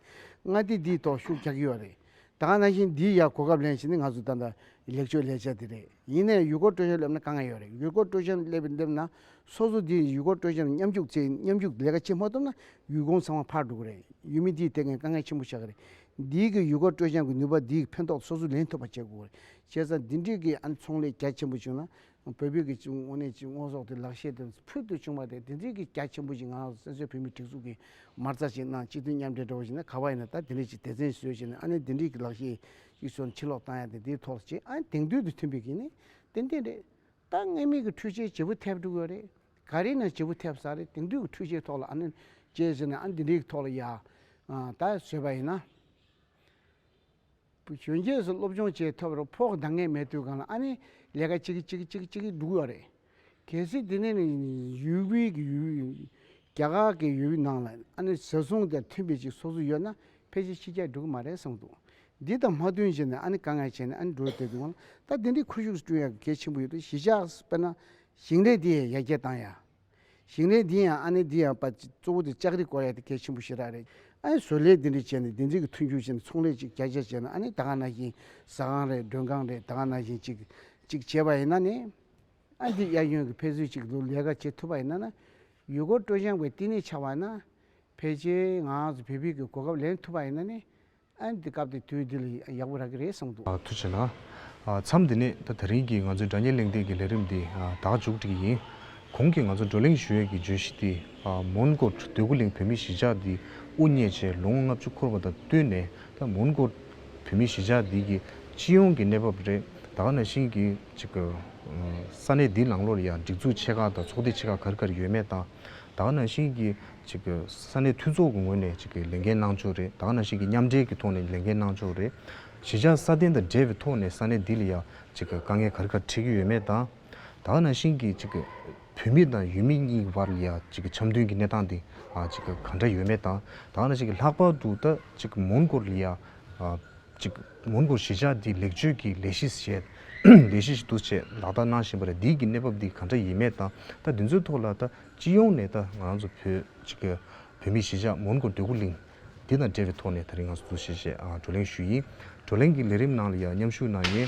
མངའ་སྡེ་འདིའི་ཐོག་ཤུགས་རྒྱག་ཡོད་རེད། ད་ག་ནང་བཞིན་འདིའི་ཡག་གོ་སྐབས་ལེན་བྱེད་ནི་ང་ཚོ་ད་ལྟ་ལེགས་བཅོས་ལས་བྱ་དེ་རེད། ཡིན་ནའི་ཡུལ་སྐོར་སྤྲོ་འཆམ་སླེབས་ན་དཀའ་ངལ་ཡོད་རེད་ཡུལ་སྐོར་སྤྲོ་འཆམ་སླེབས་སླེབས་ན་སོ་སོ་འདིའི་ཡུལ་སྐོར་སྤྲོ་འཆམ་མཉམ་རྒྱུག་ཚེ་མཉམ་རྒྱུག་ལས་ཀ་བྱེད་མ་ཐུབ་ན་ཡུལ་ཁོངས་ཚང་མ་ཕར་འགྲོ་གི་རེད་ཡུལ་མི་འདིས་དེ་གའི་དཀའ་ངལ་ཆེན་པོ་ཆགས་གི་རེད། འདིའི་གི་ཡུལ་སྐོར་སྤྲོ་འཆམ་གྱི་ནུས་པ་འདིའི་ཕན་ཐོགས་སོ་སོས་ལེན་ཐུབ་པ་བྱེད་དགོས་བྱས་ཙང་འདི་འདྲིས་ཀྱི་ཨན་ཚོང་ལས་རྒྱ་ཆེན་པོ་བྱུང་ན། བོད་པའི་ཀྱི་ཅུང་དངོས་གནས་ཀྱི་དངོས་ཟོག་དེ་ལག་ཤེས་དེ་ཕུལ་དུ་བྱུང་བ་དེ་འདི་འདྲིས་ཀྱི་རྒྱ་ཆེན་པོ་ཞིག་ང་རང་སོ་སོའི་བོད་མི་སྒྲིག་འཛུགས་ཀྱི་མར་རྩ་ཞིག་གནང་སྤྱི་མཐུན་མཉམ་འབྲེལ་འགྲོ་བ་ཞིག་ན་ག་བ་ཡིན་ན་ད་འདི་འདྲིས་ཀྱི་སྡེ་ཚན་ཞིག་བཟོས་ཞིག་ན་ཨ་ནི་འདི་འདྲིས་ཀྱི་ལག་ཤེས་ཤིག་བཟོས་ན་ཕྱིར་ལོག་བཏང་ཡ་དེ་འདིའི་ཐོག་ལ་བྱེད་ཨ་ནི་དེང་དུས་དང་མཐུན་པའི་གིན་ནི་ཏན་ཏན་རེད། ད་སྔས་མེད་ཀྱི་འཕྲུལ་ཆས་བྱེད་པོ་ཐེབས་འགྲོ་གི་ཡོད་རེད། ག་རེ་ནས་བྱེད་པོ་ཐེབས་ས་རེད་དེང་དུས་ཀྱི་འཕྲུལ་ཆས་ཐོག་ལ་ཨ་ནི་བྱས་ཟེར་ན་ཨ་ནི་འདི་འདྲིས་ཀྱི་ཐོག་ལ་ཡ། ད་བཟོས་པ་ཡིན་ན། བུ་གཞོན་སྐྱེས་སུ་སློབ་སྦྱོང་བྱས་ཐོབ་རུ་ཕོག་འདང་ངེས་མེད་དུས་གང་ལ་ཨ་ནི་ལས་ཀ་ཅིག་ཅིག་ཅིག་ཅིག་ཅིག་འདུག་ཡོད་རེད། གལ་སྲིད་དེ་ནས་ནི་ཡུལ་དབུས་ཀྱི་ཡུལ་རྒྱ་གར་གྱི་ཡུལ་ནང་ལ་ཨ་ནི་ཟེར་ཟུང་དེ་མཐུན་པའི་ཅིག་སོ་སོ་ཡོད་ན་ཕལ་ཆེར་ཕྱི་རྒྱལ་འགྲོ་གི་མ་རེད་གསུངས་འདུག་འདི་དང་མ་བསྟུན་བྱས་ནས་ཨ་ནི་དཀའ་ངལ་ཆེ་ནས་ཨ་ནི་འགྲོ་ཐལ་དུས་གང་ལ་ད་དེ་འདྲའི་ཁུ་བྱུག་སུ་བསྐྲུན་ཡག་གི་གལ་ཆེན་པོ་ཡོད་དུས་གཞིས་ཆགས་སུ་དཔེར་ན་ཞིང་ལས་དེ་ཡང་ཡར་རྒྱས་བཏང་ཡག། ཞིང་ལས་འདི་ཡང་ཨ་ནེ་འདི་ཡང་པ་གཙོ་བོ་དེ་ལྕགས་རི་བསྐོར་ཡ་དེ་གལ་ཆེན་པོ་ཞིག་རག་རེད། ཨ་ནེ་བཟོ་ལས་འདི་འདྲ་བྱས་ནས་བདེ་འཇགས་ཀྱི་མཐུན་འགྱུར་བྱས་ནས་ཚོང་ལས་ཅིག་རྒྱ་རྒྱ་བྱས་ན་ཨ་ནེ་ད་ག་ན་བཞིན་ཟ་ཁང་རེད་མགྲོན་ཁང་རེད་ད་ག་ན་བཞིན་ཅིག་ཅིག་བྱས་པ་ཡིན་ན་ནི། ཨ་འདི་གཡག་གཡོན་གྱི་ཕལ་ཚུལ་ཅིག་ལོ་ལས་ཀ་བྱེད་ཐུབ་པ་ཡིན་ན་ན། ཡུལ་སྐོར་སྤྲོ་སྦྱངས་པའི་བསྟི་གནས་ཆགས་པ་ཡིན་ན། ཕལ་ཆེའི་ངང་ལ་བོད་ཕིག་གི་གོ་སྐབས་ལེན་ཐུབ་པ་ཡིན་ན་ནི། ཨ་འདི་སྐབས་དེ་དུས་འདི་ལ་ཡག་པོ་རག་གི་རེད་གསུངས་འདུག། ཐུགས་ཆེ་ན། མཚམས་འདི་ནས་ད་ད་རིང་གི་ང་ཚོའི་སྒྲ་སྙན་གླེང་སྟེགས་ཀྱི་ལས་རིམ་འདི་དག་མཇུག་སྒྲིལ་གྱི་ཡིན། གོང་གི་ང་ཚོ་བགྲོ་གླེང་ཞུ་ཡས་ཀྱི་བརྗོད་གཞི་དེ་མོན་གྷོ་སྡོད་གུ་གླིང་བོད་མིའི་གཞིས་ཆགས་འདི་དབུ་བརྙེས་རྗེས་ལོ་ངོ་ལྔ་བཅུ་འཁོར་བ་དང་བསྟུན་ནས་ད་མོན་གྷོ་བོད་མིའི་གཞིས་ཆགས་འདི་གི་སྤྱི་ཡོངས་ཀྱི་གནས་བབ་རེད་ད་ག་ན་བཞིན་གྱི་ཅིག་ས་གནས་འདིའི་ནང་ལོར་ཡང་སྒྲིག་འཛུགས་ཆེ་ཁག་དང་ཚོགས་སྡེ་ཆེ་ཁག་གར་གར་ཡོད་མེད་དང་ད་ག་ན་བཞིན་གྱི་ས་གནས་མཐུན་ཚོགས་ཀྱི་ངོས་ནས་ལས་འགན་གནང་ཕྱོགས་རེད་དག་ན་གཞིགས་ཀྱིས་མཉམ་འབྲེལ་གྱི་ཐོག་ནས་ལས་འགན་གནང་ཕྱོགས་རེད། གཞིས་ཆགས་སྲ་བརྟན་དང་འབྲེལ་བའི་ཐོག་ནས་ས་གནས་འདི་ལ་ཡང་དཀའ་ངལ་ག་རེ་ག་རེ་འཕྲད་ཀྱི་ཡོད་མེད་དང། དག་ན་གཞིན་གྱིས་བོད་མི་དང་ཡུལ་མི་གཉིས་ཀྱི་བར་ལ་ཡང་འཆམ་མཐུན་གྱི་གནས་སྟངས་དེ་ག་འདྲ་ཡོད་མེད་དང། དག་ན་གཞིག་ལྷག་པར་དུ་ད་མོན་གྷོ་ལ་ཡང་མོན་གྷོ་གཞིས་ཆགས་འདི་ལེགས་བཅོས་ཀྱི་ལས་གཞི་ཞེས་ལས་གཞི་ཞིག་འདུ་བྱས་ལག་བསྟར་གནང་བཞིན་པ་རེད་འདི་ཀྱི་གནས་བབ་འདི་ག་འདྲ་ཡིན་མེད་དང་ད་འདི་ཚོའི་ཐོག་ལ་ད་སྤྱི་ཡོངས་ནས་ད་ང་རང་ཚོ་བོད་ཅིག་གི་བོད་མིའི་གཞིས་ཆགས་མོན་གྷོ་འདོད་རྒུ་གླིང་འདི་དང་འབྲེལ་བའི་ཐོག་ནས་ད་རིང་ང་ཚོ་གཙོ་ཆེ་བཅས་བགྲོ་གླེང་ཞུས་ཡིན། བགྲོ་གླེང་གི་ལས་རིམ་ནང་ལ་ཡང་མཉམ་ཞུགས་གནང་མཁན་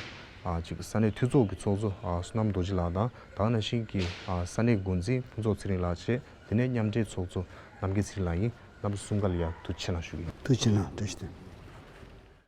གཅིག་ས་གནས་འཐུས་ཚོགས་ཀྱི་ཚོགས་གཙོ་བསོད་ནམས་རྡོ་རྗེ་ལགས་དང་དྭགས་ན་ཤིང་གི་ས་གནས་འགོ་འཛིན་ཕུན་ཚོགས་ཚེ་རིང་ལགས་བཅས་དེ་ནས་མཉམ་འབྲེལ་ཚོགས་གཙོ་རྣམ་རྒྱལ་ཚེ་རིང་ལགས་ཡིན་རྣམ་པ་གསུམ་ཀ་ལ་ཡང་ཐུགས་ཆེ་གནང་ཞུ་གི་ཡིན། ཐུགས་ཆེ་གནང།